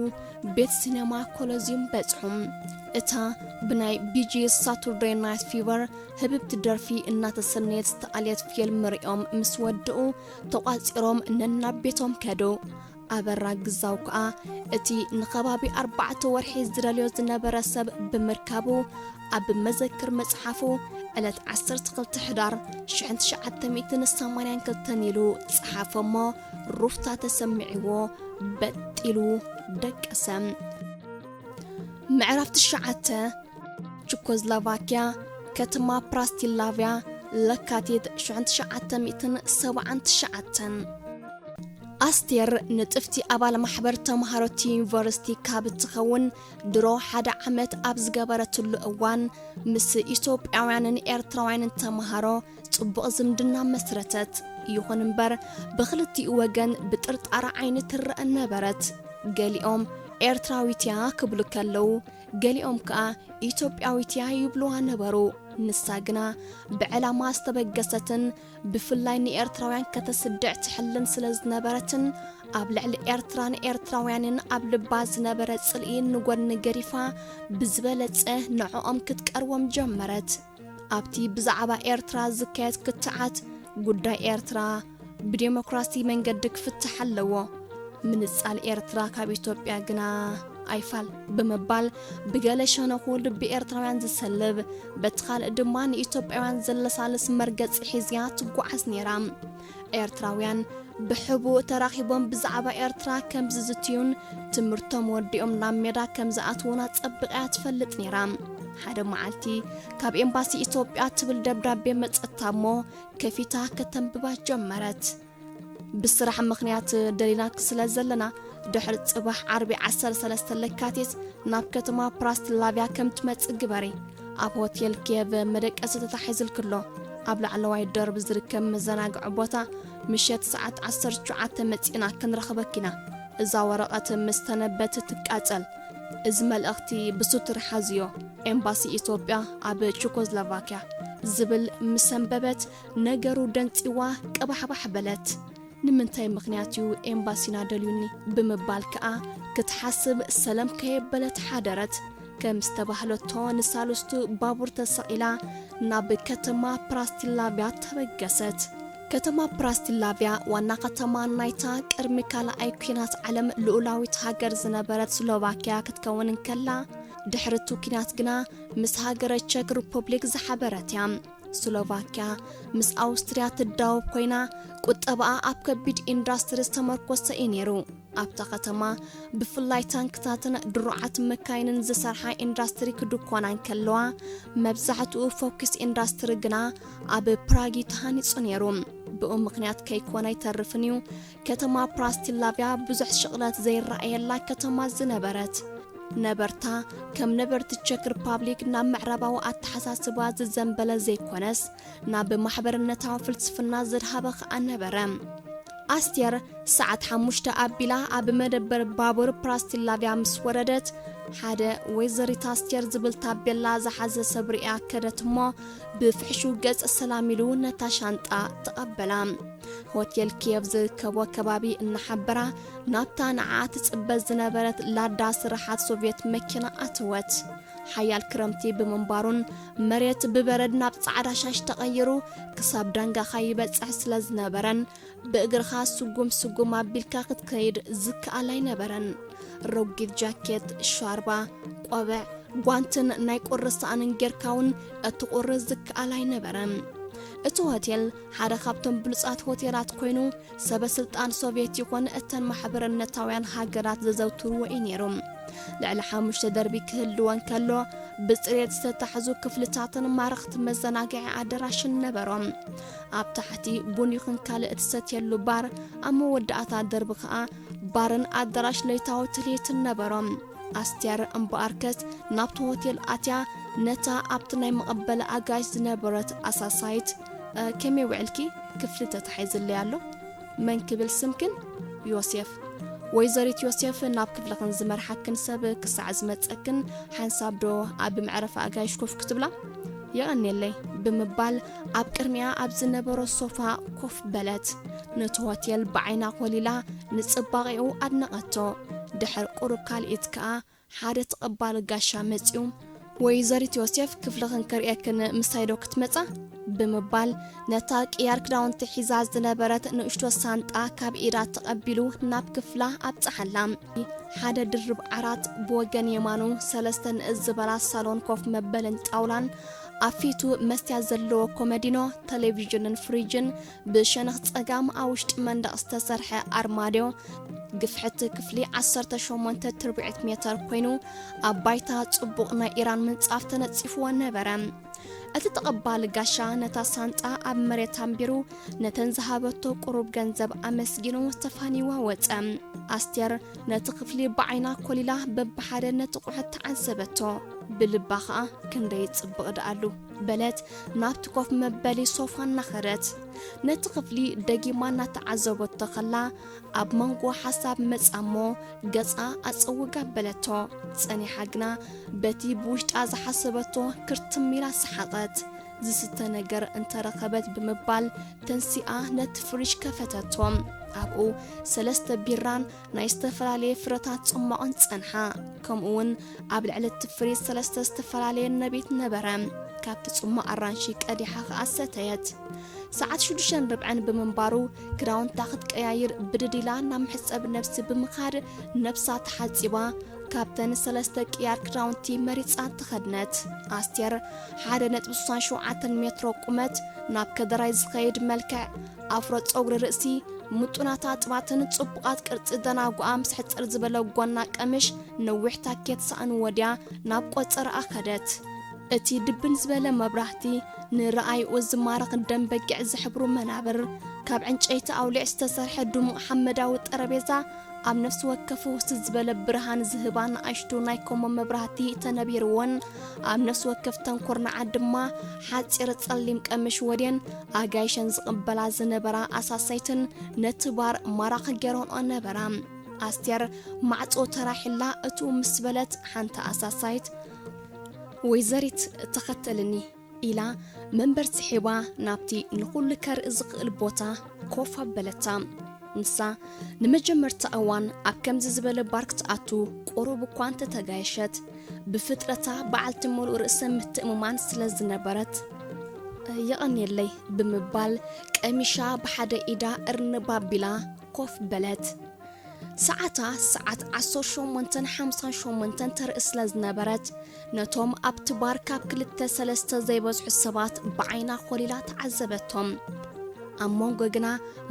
ቤት ሲነማ ኮሎዝዩም በጽሑ። እታ ብናይ ቢጂ ሳቱርደይ ናይት ፊቨር ህብብቲ ደርፊ እናተሰነየት ዝተኣልየት ፊልም ርእዮም ምስ ወድኡ ተቋጺሮም ነናብ ቤቶም ከዱ ኣበራ ግዛው ከኣ እቲ ንኸባቢ ኣርባዕተ ወርሒ ዝደልዮ ዝነበረ ሰብ ብምርካቡ ኣብ መዘክር መጽሓፉ ዕለት 12 ሕዳር 1982 ኢሉ ጸሓፈ እሞ ሩፍታ ተሰሚዕዎ በጢሉ ደቀሰ ምዕራፍ ትሽዓተ ቹኮዝላቫኪያ ከተማ ፕራስቲላቪያ ለካቲት 1979 ኣስቴር ንጥፍቲ ኣባል ማሕበር ተምሃሮቲ ዩኒቨርሲቲ ካብ እትኸውን ድሮ ሓደ ዓመት ኣብ ዝገበረትሉ እዋን ምስ ኢትዮጵያውያንን ኤርትራውያንን ተምሃሮ ፅቡቕ ዝምድና መስረተት። ይኹን እምበር ብክልቲኡ ወገን ብጥርጣረ ዓይኒ ትረአ ነበረት። ገሊኦም ኤርትራዊት እያ ክብሉ ከለዉ፣ ገሊኦም ከዓ ኢትዮጵያዊት እያ ይብሉዋ ነበሩ። ንሳ ግና ብዕላማ ዝተበገሰትን ብፍላይ ንኤርትራውያን ከተስድዕ ትሕልን ስለ ዝነበረትን ኣብ ልዕሊ ኤርትራን ኤርትራውያንን ኣብ ልባ ዝነበረ ጽልኢ ንጎድኒ ገዲፋ ብዝበለጸ ንዕኦም ክትቀርቦም ጀመረት። ኣብቲ ብዛዕባ ኤርትራ ዝካየድ ክትዓት ጉዳይ ኤርትራ ብዴሞክራሲ መንገዲ ክፍትሕ ኣለዎ፣ ምንጻል ኤርትራ ካብ ኢትዮጵያ ግና ኣይፋል ብምባል ብገለ ሸነኹ ልቢ ኤርትራውያን ዝሰልብ በቲ ካልእ ድማ ንኢትዮጵያውያን ዘለሳልስ መርገጺ ሒዝያ ትጓዓዝ ነይራ። ኤርትራውያን ብሕቡእ ተራኺቦም ብዛዕባ ኤርትራ ከም ዝዝትዩን ትምህርቶም ወዲኦም ናብ ሜዳ ከም ዝኣትዉን ኣጸቢቓ እያ ትፈልጥ ነይራ። ሓደ መዓልቲ ካብ ኤምባሲ ኢትዮጵያ ትብል ደብዳቤ መጸታ እሞ ከፊታ ከተንብባ ጀመረት። ብስራሕ ምኽንያት ደሊናኪ ስለ ዘለና ድሕሪ ጽባሕ ዓርቢ ዓሰርተ ሰለስተ ለካቲት ናብ ከተማ ፕራስትላቭያ ከም ትመጽእ ግበሪ። ኣብ ሆቴል ኬቭ መደቀሲ ተታሒዝልክሎ ኣብ ላዕለዋይ ደርብ ዝርከብ መዘናግዒ ቦታ ምሸት ሰዓት 19 መጺእና ክንረኽበኪና እዛ ወረቐት ምስ ተነበብት ትቃጸል እዚ መልእኽቲ ብሱትር ሓዝዮ ኤምባሲ ኢትዮጵያ ኣብ ቹኮዝሎቫኪያ ዝብል ምስ ኣንበበት ነገሩ ደንጺዋ ቀባሕባሕ በለት ንምንታይ ምኽንያት እዩ ኤምባሲና ደልዩኒ ብምባል ከኣ ክትሓስብ ሰለም ከየበለት ሓደረት። ከም ዝተባህለቶ ንሳልስቱ ባቡር ተሰቒላ ናብ ከተማ ፕራስቲላቭያ ተበገሰት። ከተማ ፕራስቲላቭያ ዋና ከተማ ናይታ ቅድሚ ካልኣይ ኲናት ዓለም ልኡላዊት ሃገር ዝነበረት ስሎቫኪያ ክትከውን እንከላ ድሕሪ እቲ ኲናት ግና ምስ ሃገረ ቸክ ሪፑብሊክ ዝሓበረት እያ። ስሎቫክያ ምስ ኣውስትርያ ትዳወብ ኮይና ቁጠባኣ ኣብ ከቢድ ኢንዳስትሪ ዝተመርኮሰ እዩ ነይሩ። ኣብታ ከተማ ብፍላይ ታንክታትን ድሩዓት መካይንን ዝሰርሓ ኢንዳስትሪ ክድኮና እንከለዋ መብዛሕትኡ ፎኪስ ኢንዳስትሪ ግና ኣብ ፕራግ እዩ ተሃኒጹ ነይሩ። ብኡ ምክንያት ከይኮነ ኣይተርፍን እዩ ከተማ ፕራስቲላቪያ ብዙሕ ሽቕለት ዘይረኣየላ ከተማ ዝነበረት ነበርታ ከም ነበርቲ ቸክ ሪፓብሊክ ናብ ምዕራባዊ ኣተሓሳስባ ዝዘንበለ ዘይኮነስ ናብ ማሕበርነታዊ ፍልስፍና ዘድሃበ ከኣ ነበረ ኣስቴር ሰዓት ሓሙሽተ ኣቢላ ኣብ መደበር ባቡር ፕራስቲላቪያ ምስ ወረደት ሓደ ወይዘሪት ኣስቴር ዝብል ታቤላ ዝሓዘ ሰብ ርእያ ከደት እሞ ብፍሕሹ ገጽ ሰላም ኢሉ ነታ ሻንጣ ተቐበላ ሆቴል ኪየቭ ዝርከቦ ከባቢ እናሓበራ ናብታ ንዓኣ ትጽበ ዝነበረት ላዳ ስራሓት ሶቭየት መኪና ኣተወት። ሓያል ክረምቲ ብምንባሩን መሬት ብበረድ ናብ ጻዕዳ ሻሽ ተቐይሩ ክሳብ ዳንጋኻ ይበጽሕ ስለ ዝነበረን ብእግርኻ ስጉም ስጉም ኣቢልካ ክትከይድ ዝከኣል ኣይነበረን። ረጒድ ጃኬት፣ ሻርባ፣ ቆብዕ፣ ጓንትን ናይ ቁሪ ሳእንን ጌርካ እውን እቲ ቁሪ ዝከኣል ኣይነበረን። እቲ ሆቴል ሓደ ካብቶም ብሉጻት ሆቴላት ኮይኑ ሰበ ስልጣን ሶቭየት ይኹን እተን ማሕበርነታውያን ሃገራት ዘዘውትርዎ እዩ ነይሩ ልዕሊ ሓሙሽተ ደርቢ ክህልወን ከሎ ብፅሬት ዝተታሕዙ ክፍልታትን ማረኽቲ መዘናግዒ ኣደራሽን ነበሮም ኣብ ታሕቲ ቡን ይኹን ካልእ እትሰትየሉ ባር ኣብ መወዳእታ ደርቢ ከዓ ባርን ኣዳራሽ ለይታዊ ትልሂትን ነበሮም ኣስቴር እምበኣርከስ ናብቲ ሆቴል ኣትያ ነታ ኣብቲ ናይ መቐበሊ ኣጋይሽ ዝነበረት ኣሳሳይት ከመይ ውዕልኪ ክፍሊ ተታሒዝለይ ኣሎ መን ክብል ስምክን ዮሴፍ ወይዘሪት ዮሴፍ ናብ ክፍልኽን ዝመርሓክን ሰብ ክሳዕ ዝመፀክን ሓንሳብ ዶ ኣብ መዕረፊ ኣጋይሽ ኮፍ ክትብላ የቐኒየለይ ብምባል ኣብ ቅድሚኣ ኣብ ዝነበሮ ሶፋ ኮፍ በለት። ነቲ ሆቴል ብዓይና ኮሊላ ንጽባቐኡ ኣድነቐቶ። ድሕር ቁሩብ ካልኢት ከኣ ሓደ ተቐባሊ ጋሻ መጺኡ ወይዘሪት ዮሴፍ ክፍልኽን ክርእየክን ምሳይዶ ክትመጻ ብምባል ነታ ቅያር ክዳውንቲ ሒዛ ዝነበረት ንእሽቶ ሳንጣ ካብ ኢዳ ተቐቢሉ ናብ ክፍላ ኣብጽሓላ። ሓደ ድርብ ዓራት ብወገን የማኑ ሰለስተ ንእስ ዝበላ ሳሎን ኮፍ መበልን ጣውላን ኣብ ፊቱ መስትያት ዘለዎ ኮመዲኖ፣ ተሌቪዥንን ፍሪጅን፣ ብሸነኽ ጸጋም ኣብ ውሽጢ መንደቕ ዝተሰርሐ ኣርማድዮ፣ ግፍሕቲ ክፍሊ ዓሰርተ ሸሞንተ ትርብዒት ሜተር ኮይኑ፣ ኣብ ባይታ ጽቡቕ ናይ ኢራን ምንጻፍ ተነጺፍዎ ነበረ። እቲ ተቐባሊ ጋሻ ነታ ሳንጣ ኣብ መሬት ኣንቢሩ ነተን ዝሃበቶ ቁሩብ ገንዘብ ኣመስጊኑ ተፋንይዋ ወጸ። ኣስቴር ነቲ ክፍሊ ብዓይና ኮሊላ በብሓደ ነቲ ቁሕት ተዓዘበቶ ብልባ ኸኣ ክንደይ ጽብቕ ደኣሉ በለት ናብቲ ኮፍ መበሊ ሶፋ እናኸደት ነቲ ክፍሊ ደጊማ እናተዓዘበቶ ኸላ ኣብ መንጎ ሓሳብ መጻ እሞ ገጻ ኣጸውጋ ኣበለቶ ጸኒሓ ግና በቲ ብውሽጣ ዝሓሰበቶ ክርትም ኢላ ሰሓቐት ዝስተ ነገር እንተረኸበት ብምባል ተንሲኣ ነቲ ፍሪጅ ከፈተቶ። ኣብኡ ሰለስተ ቢራን ናይ ዝተፈላለየ ፍረታት ጽሟቕን ጸንሓ። ከምኡውን ኣብ ልዕሊ እቲ ፍሪጅ ሰለስተ ዝተፈላለየ ነቤት ነበረ። ካብቲ ጽሟቕ ኣራንሺ ቀዲሓ ኸኣ ሰተየት። ሰዓት ሽዱሽተን ርብዐን ብምንባሩ ክዳውንታ ክትቀያይር ብድድ ኢላ ናብ መሕጸቢ ነብሲ ብምኻድ ነብሳ ተሓጺባ ካብተን ሰለስተ ቅያር ክዳውንቲ መሪጻ ተኸድነት። ኣስቴር ሓደ ነጥቢ ስሳን ሸውዓተን ሜትሮ ቁመት፣ ናብ ከደራይ ዝኸይድ መልክዕ፣ ኣፍሮ ጸጉሪ ርእሲ፣ ምጡናት ኣጥባትን ጽቡቓት ቅርጺ ደናጉኣ ምስ ሕጽር ዝበለ ጎና ቀምሽ ነዊሕ ታኬት ሳእኒ ወድያ ናብ ቆጸራኣ ከደት። እቲ ድብን ዝበለ መብራህቲ፣ ንረኣይኡ ዝማርኽ ደም በጊዕ ዝሕብሩ መናብር፣ ካብ ዕንጨይቲ ኣውሊዕ ዝተሰርሐ ድሙቕ ሓመዳዊ ጠረቤዛ፣ ኣብ ነፍሲ ወከፍ ፍውስ ዝበለ ብርሃን ዝህባ ንኣሽቱ ናይ ኮሞ መብራህቲ ተነቢርወን ኣብ ነፍሲ ወከፍተን ኩርናዓት ድማ ሓጺር ጸሊም ቀምሽ ወድየን ኣጋይሸን ዝቕበላ ዝነበራ ኣሳሰይትን ነቲ ባር ማራኺ ገይረንኦ ነበራ። ኣስቴር ማዕጾ ተራሒላ እትው ምስ በለት ሓንቲ ኣሳሳይት ወይዘሪት ተኸተልኒ ኢላ መንበር ስሒባ ናብቲ ንኹሉ ከርኢ ዝኽእል ቦታ ኮፍ ኣበለታ። ንሳ ንመጀመርታ እዋን ኣብ ከምዚ ዝበለ ባር ክትኣቱ ቁሩብ እኳ እንተተጋየሸት ብፍጥረታ በዓልቲ ምሉእ ርእሰ ምትእምማን ስለ ዝነበረት የቐንየለይ ብምባል ቀሚሻ ብሓደ ኢዳ እርንብ ኣቢላ ኮፍ በለት። ሰዓታ ሰዓት ዓሰርተ ሸሞንተን ሓምሳን ሸሞንተን ተርኢ ስለ ዝነበረት ነቶም ኣብቲ ባር ካብ ክልተ ሰለስተ ዘይበዝሑ ሰባት ብዓይና ኮሊላ ተዓዘበቶም ኣብ መንጎ ግና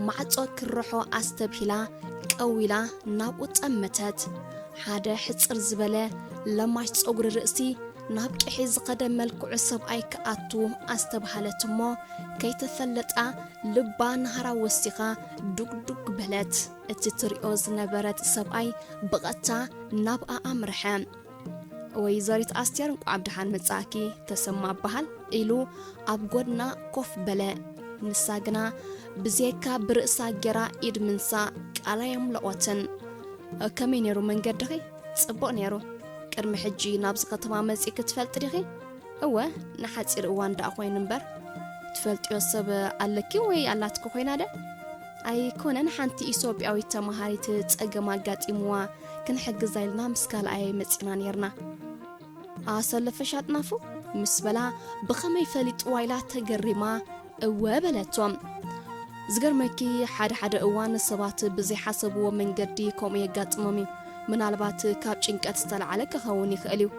ማዕጾ ክርሖ ኣስተብሂላ ቀዊላ ናብኡ ጠመተት ሓደ ሕጽር ዝበለ ለማሽ ጸጉሪ ርእሲ ናብ ቅሒ ዝኸደ መልክዑ ሰብኣይ ክኣቱ ኣስተብሃለት እሞ ከይተፈለጣ ልባ ንሃራ ወሲኻ ዱግዱግ በለት። እቲ ትሪኦ ዝነበረት ሰብኣይ ብቐጥታ ናብኣ ኣምርሐ። ወይዘሪት ኣስቴር እንቋዕ ብደሓን መጻእኪ ተሰማ እበሃል ኢሉ ኣብ ጎድና ኮፍ በለ። ንሳ ግና ብዘየካ ብርእሳ ጌራ ኢድ ምንሳእ ቃል ኣየምለቖትን። ከመይ ነይሩ መንገድኺ? ጽቡቕ ነይሩ። ቅድሚ ሕጂ ናብዚ ከተማ መጺእኪ ትፈልጢ ዲኺ? እወ ንሓጺር እዋን ደኣ ኮይኑ እምበር። ትፈልጥዮ ሰብ ኣለኪ ወይ ኣላትኪ ኮይና ደ? ኣይኮነን ሓንቲ ኢሶጵያዊት ተማሃሪት ጸገም ኣጋጢምዋ ክንሕግዛ ኢልና ምስ ካልኣየይ መጺና ኔርና ኣሰለፈሽ ኣጥናፉ ምስ በላ ብኸመይ ፈሊጥዋ ኢላ ተገሪማ እወ በለቶ ዝገርመኪ ሓደ ሓደ እዋን ሰባት ብዘይሓሰብዎ መንገዲ ከምኡ የጋጥሞም እዩ ምናልባት ካብ ጭንቀት ዝተላዓለ ክኸውን ይኽእል እዩ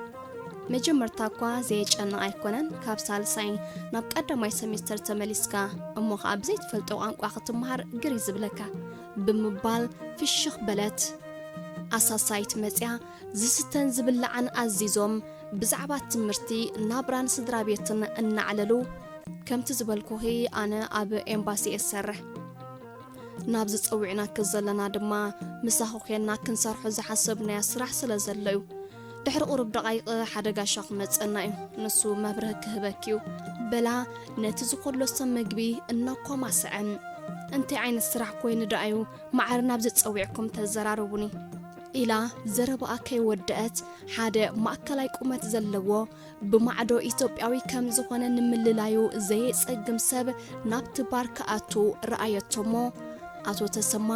መጀመርታ እኳ ዘየጨንቕ ኣይኮነን ካብ ሳልሳይ ናብ ቀዳማይ ሰሚስተር ተመሊስካ እሞ ኸዓ ብዘይ ትፈልጦ ቋንቋ ክትምሃር ግሪ ዝብለካ ብምባል ፍሽኽ በለት ኣሳሳይት መፅያ ዝስተን ዝብላዕን ኣዚዞም ብዛዕባ ትምህርቲ ናብራን ስድራ ቤትን እናዕለሉ ከምቲ ዝበልኩኺ ኣነ ኣብ ኤምባሲ እየ ዝሰርሕ ናብዚ ፀዊዕናኪ ዘለና ድማ ምሳኺ ኮንና ክንሰርሖ ዝሓሰብናዮ ስራሕ ስለ ዘሎ እዩ ድሕሪ ቁሩብ ደቓይቕ ሓደ ጋሻ ክመጸና እዩ ንሱ መብርህ ክህበኪ እዩ በላ ነቲ ዝኮሎ ሰብ መግቢ እናኳማሰዐ እንታይ ዓይነት ስራሕ ኮይኑ ደኣዩ ማዓር ናብዚ ጸዊዕኩም ተዘራርቡኒ ኢላ ዘረባኣ ከይወደአት ሓደ ማእከላይ ቁመት ዘለዎ ብማዕዶ ኢትዮጵያዊ ከም ዝኾነ ንምልላዩ ዘየጸግም ሰብ ናብቲ ባር ክኣቱ ረኣየቶ እሞ ኣቶ ተሰማ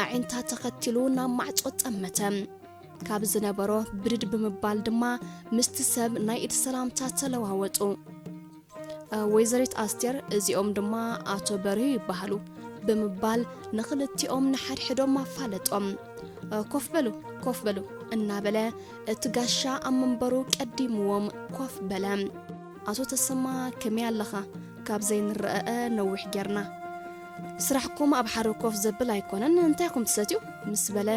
ኣዒንታ ተኸቲሉ ናብ ማዕጾ ጠመተ። ካብ ዝነበሮ ብድድ ብምባል ድማ ምስቲ ሰብ ናይ እቲ ሰላምታ ተለዋወጡ። ወይዘሪት ኣስቴር እዚኦም ድማ ኣቶ በርሂ ይበሃሉ ብምባል ንኽልቲኦም ንሓድሕዶም ኣፋለጦም። ኮፍ በሉ ኮፍ በሉ እናበለ እቲ ጋሻ ኣብ መንበሩ ቀዲምዎም ኮፍ በለ። ኣቶ ተሰማ ከመይ ኣለኻ? ካብ ዘይንረኣኣ ነዊሕ ጌርና። ስራሕኩም ኣብ ሓደ ኮፍ ዘብል ኣይኮነን እንታይ ኩም ትሰትዩ ምስ በለ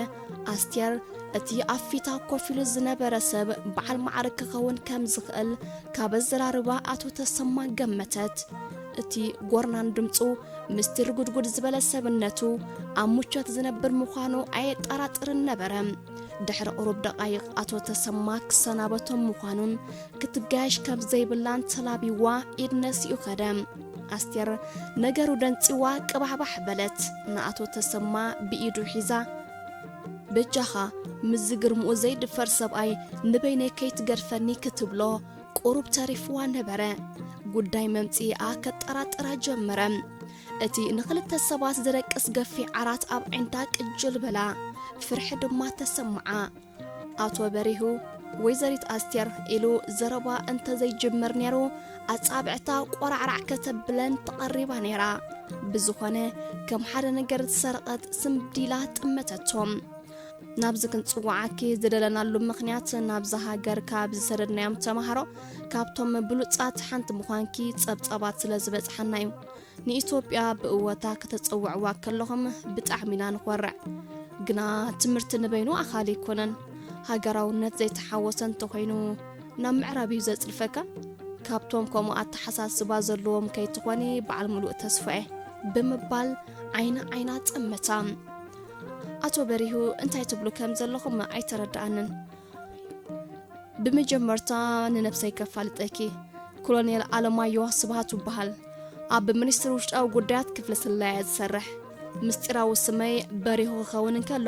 ኣስቴር እቲ ኣብ ፊታ ኮፍ ኢሉ ዝነበረ ሰብ በዓል ማዕርግ ክኸውን ከም ዝኽእል ካብ ኣዘራርባ ኣቶ ተሰማ ገመተት እቲ ጎርናን ድምፁ ምስቲ ርጉድጉድ ዝበለ ሰብነቱ ኣብ ሙቾት ዝነብር ምዃኑ ኣየጠራጥርን ነበረ ድሕሪ ቁሩብ ደቃይቕ ኣቶ ተሰማ ክሰናበቶም ምዃኑን ክትጋየሽ ከም ዘይብላን ተላቢዋ ኢድ ነሲኡ ኸደ ኣስቴር ነገሩ ደንጺዋ ቅባሕባሕ በለት። ንኣቶ ተሰማ ብኢዱ ሒዛ፣ በጃኻ ምስዚ ግርምኡ ዘይድፈር ሰብኣይ ንበይነይ ከይትገድፈኒ ክትብሎ ቁሩብ ተሪፍዋ ነበረ። ጉዳይ መምጽኢኣ ከጠራጥራ ጀመረ። እቲ ንኽልተ ሰባት ዝደቅስ ገፊሕ ዓራት ኣብ ኣዒንታ ቅጅል በላ። ፍርሒ ድማ ተሰምዓ። ኣቶ በሪሁ፣ ወይዘሪት ኣስቴር ኢሉ ዘረባ እንተዘይጅምር ነይሩ ኣጻብዕታ ቆራዕራዕ ከተብለን ተቐሪባ ነይራ። ብዝኾነ ከም ሓደ ነገር ዝሰረቐት ስምብዲላ ጥመተቶም። ናብዚ ክንጽዋዓኪ ዝደለናሉ ምኽንያት ናብዚ ሃገር ካብ ዝሰደድናዮም ተማሃሮ ካብቶም ብሉጻት ሓንቲ ምዃንኪ ጸብጻባት ስለ ዝበጽሓና እዩ። ንኢትዮጵያ ብእወታ ከተጸውዕዋ ከለኹም ብጣዕሚ ኢና ንኾርዕ። ግና ትምህርቲ ንበይኑ ኣኻሊ ኣይኮነን። ሃገራውነት ዘይተሓወሰ እንተኾይኑ ናብ ምዕራብ እዩ ዘጽድፈካ። ካብቶም ከምኡ ኣተሓሳስባ ዘለዎም ከይትኾኒ በዓል ምሉእ ተስፋ'የ። ብምባል ዓይኒ ዓይና ጠመታ። ኣቶ በሪሁ እንታይ ትብሉ ከም ዘለኹም ኣይተረድኣንን። ብመጀመርታ ንነብሰይ ከፋልጠኪ ኮሎኔል ኣለማዮ ስብሃቱ በሃል ኣብ ሚኒስትሪ ውሽጣዊ ጉዳያት ክፍሊ ስለያ ዝሰርሕ ምስጢራዊ ስመይ በሪሁ ክኸውን እንከሎ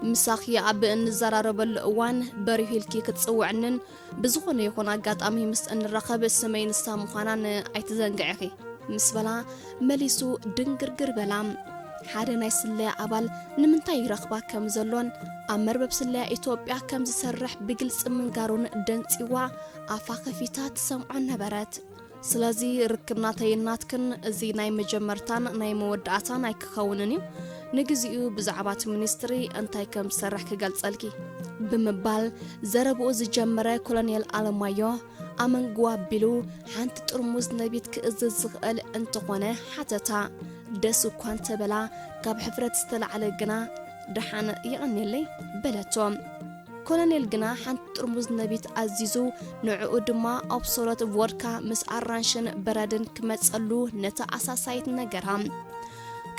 ምሳኺ ኣብ እንዘራረበሉ እዋን በሪሁ ኢልኪ ክትፅውዕንን ብዝኾነ ይኹን ኣጋጣሚ ምስ እንራኸብ ስመይ ንሳ ምዃናን ኣይትዘንግዕኺ ምስ በላ መሊሱ ድንግርግር በላ። ሓደ ናይ ስለያ ኣባል ንምንታይ ይረኽባ ከም ዘሎን ኣብ መርበብ ስለያ ኢትዮጵያ ከም ዝሰርሕ ብግልጺ ምንጋሩን ደንጺዋ ኣፋ ከፊታ ትሰምዖ ነበረት። ስለዚ ርክብ ናተይን ናትክን እዚ ናይ መጀመርታን ናይ መወዳእታን ኣይክኸውንን እዩ። ንግዚኡ ብዛዕባ እቲ ሚኒስትሪ እንታይ ከም ዝሰርሕ ክገልጸልኪ። ብምባል ዘረብኡ ዝጀመረ ኮሎኔል ኣለማዮ፣ ኣመንጉ ኣቢሉ ሓንቲ ጥርሙዝ ነቢት ክእዝዝ ዝኽእል እንተኾነ ሓተታ። ደስ እኳ እንተበላ ካብ ሕፍረት ዝተላዕለ ግና ደሓን የቐኔለይ በለቶ። ኮሎኔል ግና ሓንቲ ጥርሙዝ ነቢት ኣዚዙ ንዕኡ ድማ ኦብሶሎት ቮድካ ምስ ኣራንሽን በረድን ክመጸሉ ነታ ኣሳሳይት ነገራ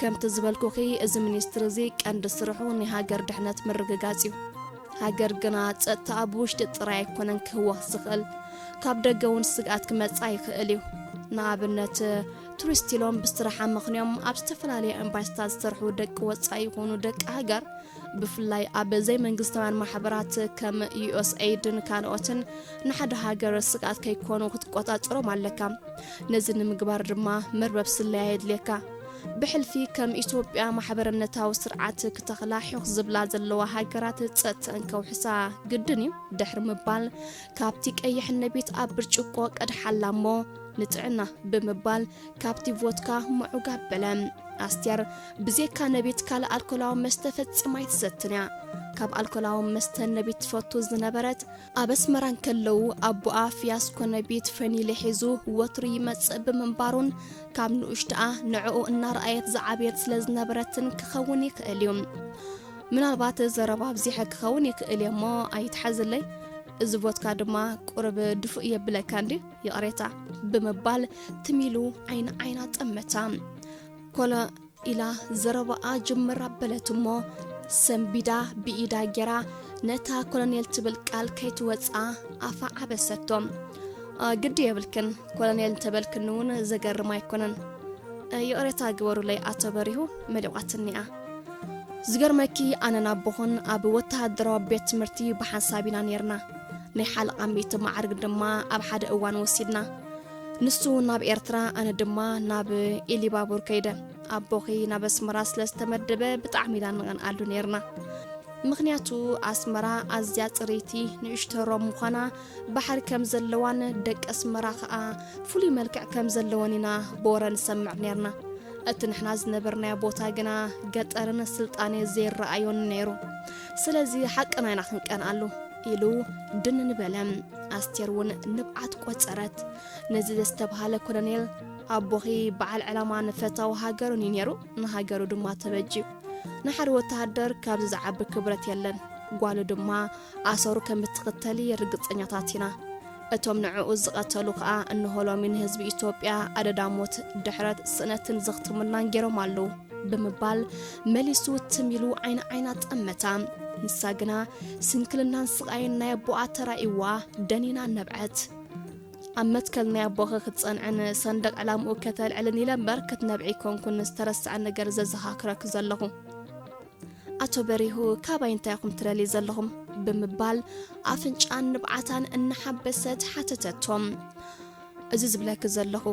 ከምቲ ዝበልኩኺ እዚ ሚኒስትሪ እዚ ቀንዲ ስርሑ ናይ ሃገር ድሕነት ምርግጋጽ እዩ ሃገር ግና ጸጥታኣ ብውሽጢ ጥራይ ኣይኮነን ክህወኽ ዝኽእል ካብ ደገ እውን ስግኣት ክመጽኣ ይኽእል እዩ። ንኣብነት ቱሪስት ኢሎም ብስራሕ ኣመኽንዮም ኣብ ዝተፈላለየ ኤምባሲታት ዝሰርሑ ደቂ ወጻኢ ይኹኑ ደቂ ሃገር ብፍላይ ኣብ ዘይመንግስታውያን ማሕበራት ከም ዩኤስኤይድን ካልኦትን ንሓደ ሃገር ስግኣት ከይኮኑ ክትቆጻጸሮም ኣለካ። ነዚ ንምግባር ድማ መርበብ ስለያ የድልየካ። ብሕልፊ ከም ኢትዮጵያ ማሕበርነታዊ ስርዓት ክተኽላ ሑኽ ዝብላ ዘለዋ ሃገራት ጸጥተን ከውሕሳ ግድን እዩ ድሕሪ ምባል ካብቲ ቀይሕ ነቢት ኣብ ብርጭቆ ቀድሓላ እሞ ንጥዕና ብምባል ካብቲ ቮትካ ምዑግ ኣበለ ኣስቴር ብዜካ ነቢት ካልእ ኣልኮላዊ መስተ ፈጺማ ኣይትሰትን እያ ካብ ኣልኮላዊ መስተ ነቢት ትፈቱ ዝነበረት ኣብ ኣስመራ እንከለዉ ኣቦኣ ፍያስኮ ነቢት ፈኒለ ሒዙ ወትሩ ይመጽእ ብምንባሩን ካብ ንኡሽትኣ ንዕኡ እናረኣየት ዝዓበየት ስለ ዝነበረትን ክኸውን ይኽእል እዩ ምናልባት ዘረባ ኣብዚሐ ክኸውን ይኽእል እየ እሞ ኣይትሓዝለይ እዚ ቮትካ ድማ ቁርብ ድፉእ የብለካ እንዲ ይቕሬታ ብምባል ትሚሉ ዓይኒ ዓይና ጠመታ ኮሎ ኢላ ዘረባኣ ጅምር ኣበለት እሞ ሰንቢዳ ብኢዳ ጌራ ነታ ኮሎኔል ትብል ቃል ከይትወጽኣ ኣፋ ዓበሰቶ። ግዲ የብልክን ኮሎኔል እንተበልክኒ እውን ዘገርም ኣይኮነን። ይቕሬታ ግበሩለይ ኣቶ በሪሁ መሊቋትኒ'ያ። ዝገርመኪ ኣነን ኣቦኹን ኣብ ወተሃደራዊ ቤት ትምህርቲ ብሓንሳብ ኢና ኔርና። ናይ ሓለቓ ሚእቲ መዓርግ ድማ ኣብ ሓደ እዋን ወሲድና። ንሱ ናብ ኤርትራ ኣነ ድማ ናብ ኢሊባቡር ከይደ ኣቦኺ ናብ ኣስመራ ስለ ዝተመደበ ብጣዕሚ ኢና ንቐንኣሉ ነይርና ምኽንያቱ ኣስመራ ኣዝያ ጽርይቲ ንእሽቶ ሮም ምዃና ባሕሪ ከም ዘለዋን ደቂ ኣስመራ ኸኣ ፍሉይ መልክዕ ከም ዘለወን ኢና ብወረ ንሰምዕ ነርና እቲ ንሕና ዝነበርናዮ ቦታ ግና ገጠርን ስልጣኔ ዘይረኣዮን ነይሩ ስለዚ ሓቅና ኢና ክንቀንኣሉ ኢሉ ድንን በለ። ኣስቴር እውን ንብዓት ቆጸረት። ነዚ ዘስተብሃለ ኮሎኔል ኣቦኺ በዓል ዕላማን ፈታዊ ሃገሩን እዩ ነይሩ፣ ንሃገሩ ድማ ተበጅዩ። ንሓደ ወተሃደር ካብዚ ዝዓቢ ክብረት የለን። ጓሉ ድማ ኣሰሩ ከም እትኽተል ርግጸኛታት ኢና። እቶም ንዕኡ ዝቐተሉ ከኣ እንሆ ሎሚ ንህዝቢ ኢትዮጵያ ኣደዳ ሞት፣ ድሕረት፣ ስእነትን ዘኽትሙልናን ገይሮም ኣለዉ። ብምባል መሊሱ ትም ኢሉ ዓይኒ ዓይና ጠመታ። ንሳ ግና ስንክልናን ስቓይን ናይ ኣቦኣ ተራእዩዋ ደኒና ነብዐት። ኣብ መትከል ናይ ኣቦኺ ክትጸንዕን ሰንደቕ ዕላምኡ ከተልዕልን ኢለ እምበር ክትነብዒ ኣይኮንኩን ዝተረስዐ ነገር ዘዘኻክረኪ ዘለኹ። ኣቶ በሪሁ ካባይ እንታይ ኢኹም ትደልዩ ዘለኹም? ብምባል ኣፍንጫን ንብዓታን እናሓበሰት ሓተተቶም። እዚ ዝብለኪ ዘለኹ፣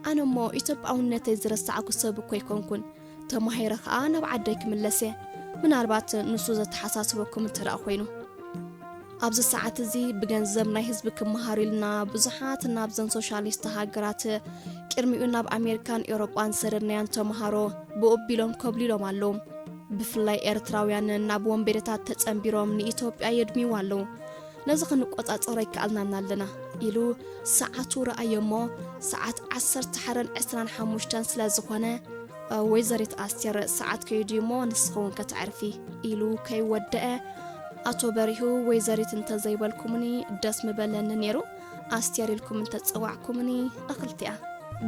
ኣነ እሞ ኢትዮጵያውነተይ ዝረሳዕኩ ሰብ እኮ ኣይኮንኩን። ተማሂረ ከኣ ናብ ዓደይ ክምለስ እየ። ምናልባት ንሱ ዘተሓሳስበኩም እንተደኣ ኮይኑ። ኣብዚ ሰዓት እዚ ብገንዘብ ናይ ህዝቢ ክመሃሩ ኢልና ብዙሓት ናብዘን ሶሻሊስት ሃገራት ቅድሚኡ ናብ ኣሜሪካን ኤውሮጳን ሰደድናያን ተምሃሮ ብኡ ቢሎም ኮብሊሎም ኣለዉ። ብፍላይ ኤርትራውያን ናብ ወንበዴታት ተጸንቢሮም ንኢትዮጵያ የድምይዋ ኣለዉ። ነዚ ክንቆጻጸሮ ኣይከኣልናን ኣለና ኢሉ ሰዓቱ ረኣዮ እሞ ሰዓት ዓሰርተ ሓረን ዕስራን ሓሙሽተን ስለ ዝኾነ ወይዘሪት ኣስቴር ሰዓት ከይዱ እዩ እሞ ንስኺ እውን ከተዕርፊ ኢሉ ከይወደአ ኣቶ በሪሁ ወይዘሪት እንተዘይበልኩምኒ ደስ ምበለኒ ነይሩ ኣስቴር ኢልኩም እንተፀዋዕኩምኒ እኽልቲያ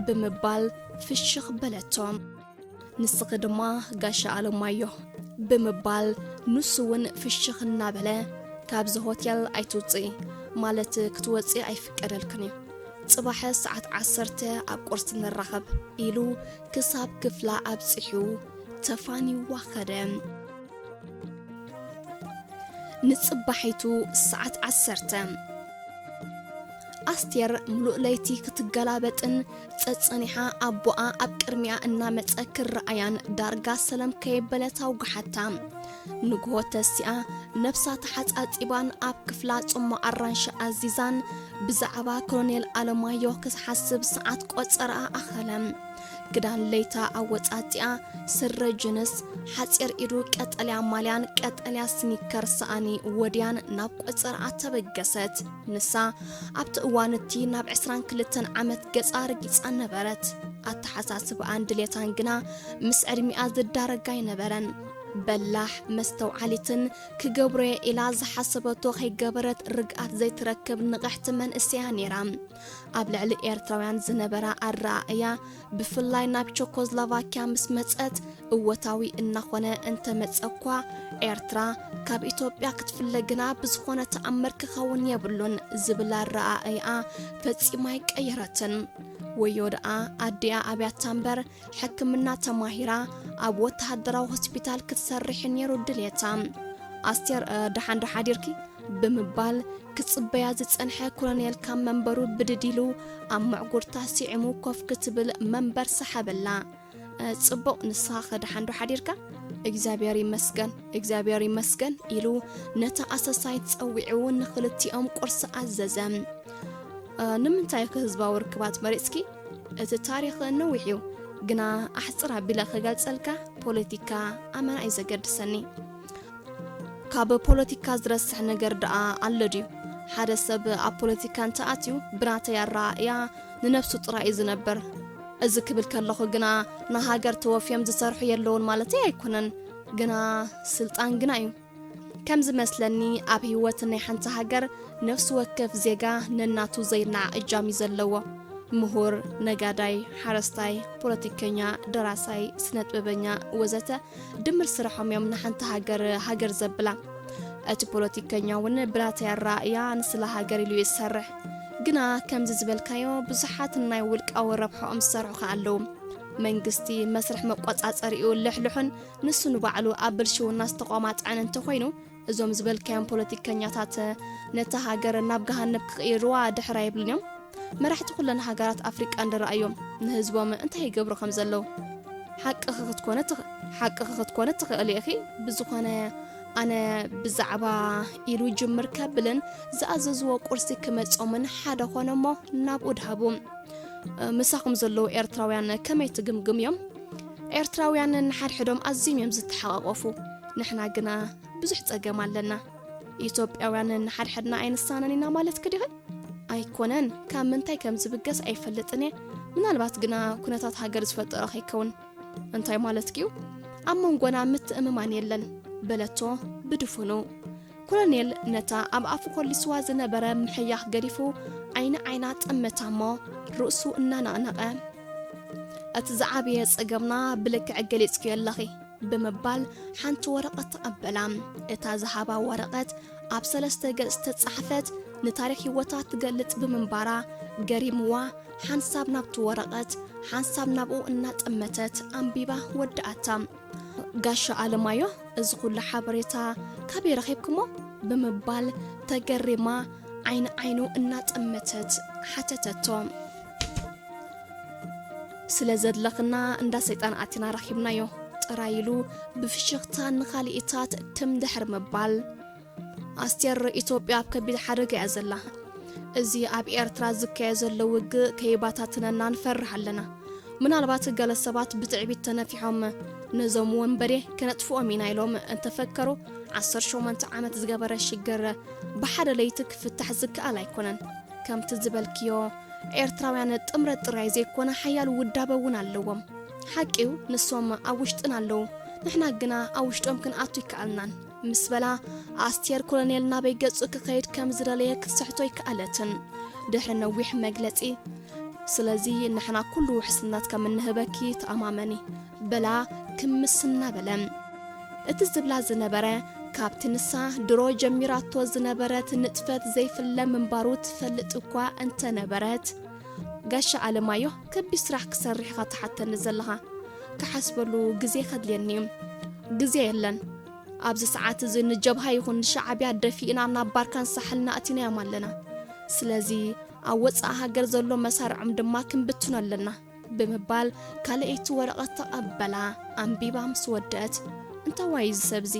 ብምባል ፍሽኽ በለቶም ንስኺ ድማ ጋሻ ኣለማዮ ብምባል ንሱ እውን ፍሽኽ እናበለ ካብዚ ሆቴል ኣይትውፅኢ ማለት ክትወፅኢ ኣይፍቀደልክን እዩ ጽባሕ ሰዓት ዓሰርተ ኣብ ቁርሲ ንራኸብ ኢሉ ክሳብ ክፍላ ኣብጺሑ ተፋንዩዋ ኸደ። ንጽባሒቱ ሰዓት ዓሰርተ ኣስቴር ምሉእ ለይቲ ክትገላበጥን ጸጸኒሓ ኣቦኣ ኣብ ቅድሚኣ እናመጸ ክረኣያን ዳርጋ ሰለም ከየበለት ኣውግሓታ ንግሆ ተሲኣ ነብሳ ተሓጻጺባን ኣብ ክፍላ ጽሟቕ ኣራንሺ ኣዚዛን ብዛዕባ ኮሎኔል ኣለማዮ ክትሓስብ ሰዓት ቆጸራኣ ኣኸለ። ክዳን ለይታ ኣወጻጺኣ ስረ ጅንስ፣ ሓጺር ኢዱ ቀጠልያ ማልያን ቀጠልያ ስኒከር ሰኣኒ ወድያን ናብ ቆጸራኣ ተበገሰት። ንሳ ኣብቲ እዋን እቲ ናብ ዕስራን ክልተን ዓመት ገጻ ርጊጻ ነበረት። ኣተሓሳስባኣን ድሌታን ግና ምስ ዕድሚኣ ዝዳረግ ኣይነበረን። በላሕ፣ መስተውዓሊትን ክገብሮ'የ ኢላ ዝሓሰበቶ ከይገበረት ርግኣት ዘይትረክብ ንቕሕቲ መንእሰያ ነይራ። ኣብ ልዕሊ ኤርትራውያን ዝነበራ ኣረኣእያ ብፍላይ ናብ ቸኮዝላቫኪያ ምስ መጸት እወታዊ እናኾነ እንተመጸ'ኳ ኤርትራ ካብ ኢትዮጵያ ክትፍለ ግና ብዝኾነ ተኣምር ክኸውን የብሉን ዝብል ኣረኣእይኣ ፈጺማ ኣይቀየረትን። ወዮ ደኣ ኣዲኣ ኣብያታ እምበር ሕክምና ተማሂራ ኣብ ወተሃደራዊ ሆስፒታል ክትሰርሕ ነይሩ ድልየታ። ኣስቴር ደሓን ዶ ሓዲርኪ ብምባል ክጽበያ ዝጸንሐ ኮሎኔል ካብ መንበሩ ብድድ ኢሉ ኣብ መዕጉርታ ስዒሙ ኮፍ ክትብል መንበር ሰሓበላ። ጽቡቕ ንስኻ ከድሓንዶ ሓዲርካ እግዚኣብሔር ይመስገን እግዚኣብሔር ይመስገን ኢሉ ነታ ኣሰሳይት ጸዊዑ ንኽልቲኦም ቁርሲ ኣዘዘ ንምንታይ ከ ህዝባዊ ርክባት መሪጽኪ እቲ ታሪኽ ነዊሕ እዩ ግና ኣሕጽር ኣቢለ ክገልጸልካ ፖለቲካ ኣመና እዩ ዘገድሰኒ። ካብ ፖለቲካ ዝረስሕ ነገር ደኣ ኣሎ ድዩ? ሓደ ሰብ ኣብ ፖለቲካ እንተኣትዩ ብናተይ ኣረኣእያ ንነብሱ ጥራይ እዩ ዝነበር። እዚ ክብል ከለኹ ግና ንሃገር ተወፍዮም ዝሰርሑ የለዉን ማለተይ ኣይኮነን። ግና ስልጣን ግና እዩ። ከም ዝመስለኒ ኣብ ህይወት ናይ ሓንቲ ሃገር ነፍሲ ወከፍ ዜጋ ነናቱ ዘይናዕ እጃም እዩ ዘለዎ ምሁር ነጋዳይ ሓረስታይ ፖለቲከኛ ደራሳይ ስነጥበበኛ ወዘተ ድምር ስርሖም እዮም ንሓንቲ ሃገር ሃገር ዘብላ እቲ ፖለቲከኛ እውን ብናተይ ኣረኣእያ ንስለ ሃገር ኢሉ ይሰርሕ ግና ከምዚ ዝበልካዮ ብዙሓት ናይ ውልቃዊ ረብሐኦም ዝሰርሑ ከ ኣለዉ መንግስቲ መስርሕ መቆፃፀሪኡ ልሕልሑን ንሱ ንባዕሉ ኣብ ብልሽውና ዝተቋማጥዐን እንተኾይኑ እዞም ዝበልካዮም ፖለቲከኛታት ነታ ሃገር ናብ ገሃነብ ክቕይርዋ ድሕር ኣይብሉን እዮም። መራሕቲ ኩለን ሃገራት ኣፍሪቃ እንድረኣዮም ንህዝቦም እንታይ ይገብሩ ከም ዘለዉ ሓቅኺ ክትኮነ ሓቅኺ ክትኮነ ትኽእሊ ኢኺ ብዝኾነ ኣነ ብዛዕባ ኢሉ ይጅምር ከብልን ዝኣዘዝዎ ቁርሲ ክመጾምን ሓደ ኾነ እሞ ናብኡ ድሃቡ ምሳኹም ዘለዉ ኤርትራውያን ከመይ ትግምግም እዮም ኤርትራውያን ንሓድሕዶም ኣዝዮም እዮም ዝተሓቛቖፉ፣ ንሕና ግና ብዙሕ ጸገም ኣለና። ኢትዮጵያውያን ንሓድሕድና ኣይንሳነን ኢና ማለትኪ ዲኺ? ኣይኮነን፣ ካብ ምንታይ ከም ዝብገስ ኣይፈልጥን እየ፣ ምናልባት ግና ኩነታት ሃገር ዝፈጠሮ ከይከውን። እንታይ ማለትኪ'ዩ? ኣብ መንጎና ምትእምማን የለን በለቶ ብድፉኑ። ኮሎኔል ነታ ኣብ ኣፉ ኮሊስዋ ዝነበረ ምሕያኽ ገዲፉ ዓይኒ ዓይና ጠመታ እሞ ርእሱ እናነቕነቐ እቲ ዝዓበየ ጸገምና ብልክዕ ገሊጽክዮ ኣለኺ ብምባል ሓንቲ ወረቐት ተቐበላ እታ ዝሃባ ወረቐት ኣብ ሰለስተ ገጽ ዝተጻሕፈት ንታሪክ ህይወታ ትገልጽ ብምንባራ ገሪምዋ ሓንሳብ ናብቲ ወረቐት ሓንሳብ ናብኡ እናጠመተት ኣንቢባ ወዳኣታ ጋሻ ኣለማዮ እዚ ኹሉ ሓበሬታ ካበይ ረኺብኩሞ? ብምባል ተገሪማ ዓይኒ ዓይኑ እናጠመተት ሓተተቶ። ስለ ዘድለኽና እንዳ ሰይጣን ኣቲና ረኺብናዮ ጥራይ ኢሉ ብፍሽኽታ ንኻልኢታት ትም ድሕር ምባል። ኣስቴር ኢትዮጵያ ኣብ ከቢድ ሓደጋ እያ ዘላ። እዚ ኣብ ኤርትራ ዝካየ ዘሎ ውግእ ከይባታትነና ንፈርህ ኣለና። ምናልባት ገለ ሰባት ብትዕቢት ተነፊሖም ነዞም ወንበዴ ከነጥፍኦም ኢና ኢሎም እንተፈከሩ ዓሰርተ ሸሞንተ ዓመት ዝገበረ ሽግር ብሓደ ለይቲ ክፍታሕ ዝከኣል ኣይኮነን። ከምቲ ዝበልክዮ ኤርትራውያን ጥምረት ጥራይ ዘይኮነ ሓያል ውዳበ እውን ኣለዎም። ሓቂዩ ንሶም ኣብ ውሽጥና ኣለዉ ንሕና ግና ኣብ ውሽጦም ክንኣቱ ኣይከኣልናን። ምስ በላ ኣስቴር ኮሎኔል ናበይ ገጹ ክኸይድ ከም ዝደለየ ክትስሕቶ ኣይከኣለትን። ድሕሪ ነዊሕ መግለጺ ስለዚ ንሕና ኩሉ ውሕስነት ከም እንህበኪ ተኣማመኒ በላ ክምስ እናበለ እቲ ዝብላ ዝነበረ ካብቲ ንሳ ድሮ ጀሚራቶ ዝነበረት ንጥፈት ዘይፍለ ምንባሩ ትፈልጥ እኳ እንተነበረት ጋሻ ኣለማዮህ ከቢድ ስራሕ ክሰርሕ ኢኻ ትሓተኒ ዘለኻ ክሓስበሉ ግዜ ከድልየኒ እዩ ግዜ የለን ኣብዚ ሰዓት እዚ ንጀብሃ ይኹን ንሻዓብያ ደፊእና ናብ ባርካን ሳሕልና ኣእቲናዮም ኣለና ስለዚ ኣብ ወፃኢ ሃገር ዘሎ መሳርዖም ድማ ክንብትኖ ኣለና ብምባል ካልኣይቲ ወረቐት ተቐበላ ኣንቢባ ምስ ወደአት እንታዋይ እዚ ሰብዚ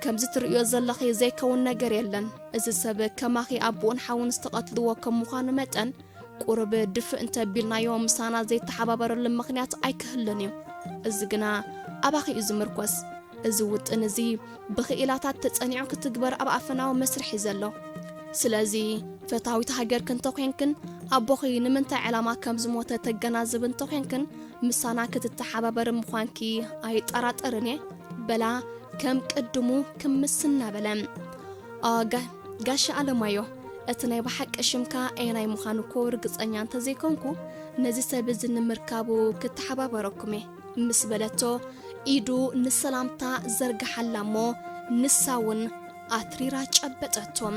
ከምዚ ትርእዮ ዘለኺ ዘይከውን ነገር የለን እዚ ሰብ ከማኺ ኣቡኡን ሓውን ዝተቐትልዎ ከም ምዃኑ መጠን ቁሩብ ድፍእ እንተቢልናዮ ምሳና ዘይተሓባበረሉ ምኽንያት ኣይክህሉን እዩ። እዚ ግና ኣባኺ እዩ ዝምርኮስ። እዚ ውጥን እዚ ብኽኢላታት ተጸኒዑ ክትግበር ኣብ ኣፈናዊ መስርሕ እዩ ዘሎ። ስለዚ ፈታዊት ሃገርኪ እንተኾይንክን ኣቦኺ ንምንታይ ዕላማ ከም ዝሞተ ተገናዝቢ እንተኾይንክን ምሳና ክትተሓባበሪ ምዃንኪ ኣይጠራጠርን እየ በላ ከም ቅድሙ ክምስ እናበለ። ጋሻ ኣለማዮ እቲ ናይ ብሓቂ ሽምካ ኣየናይ ምዃኑ እኮ ርግጸኛ እንተዘይኮንኩ ነዚ ሰብ እዚ ንምርካቡ ክተሓባበረኩም እየ ምስ በለቶ ኢዱ ንሰላምታ ዘርግሓላ እሞ ንሳ እውን ኣትሪራ ጨበጠቶም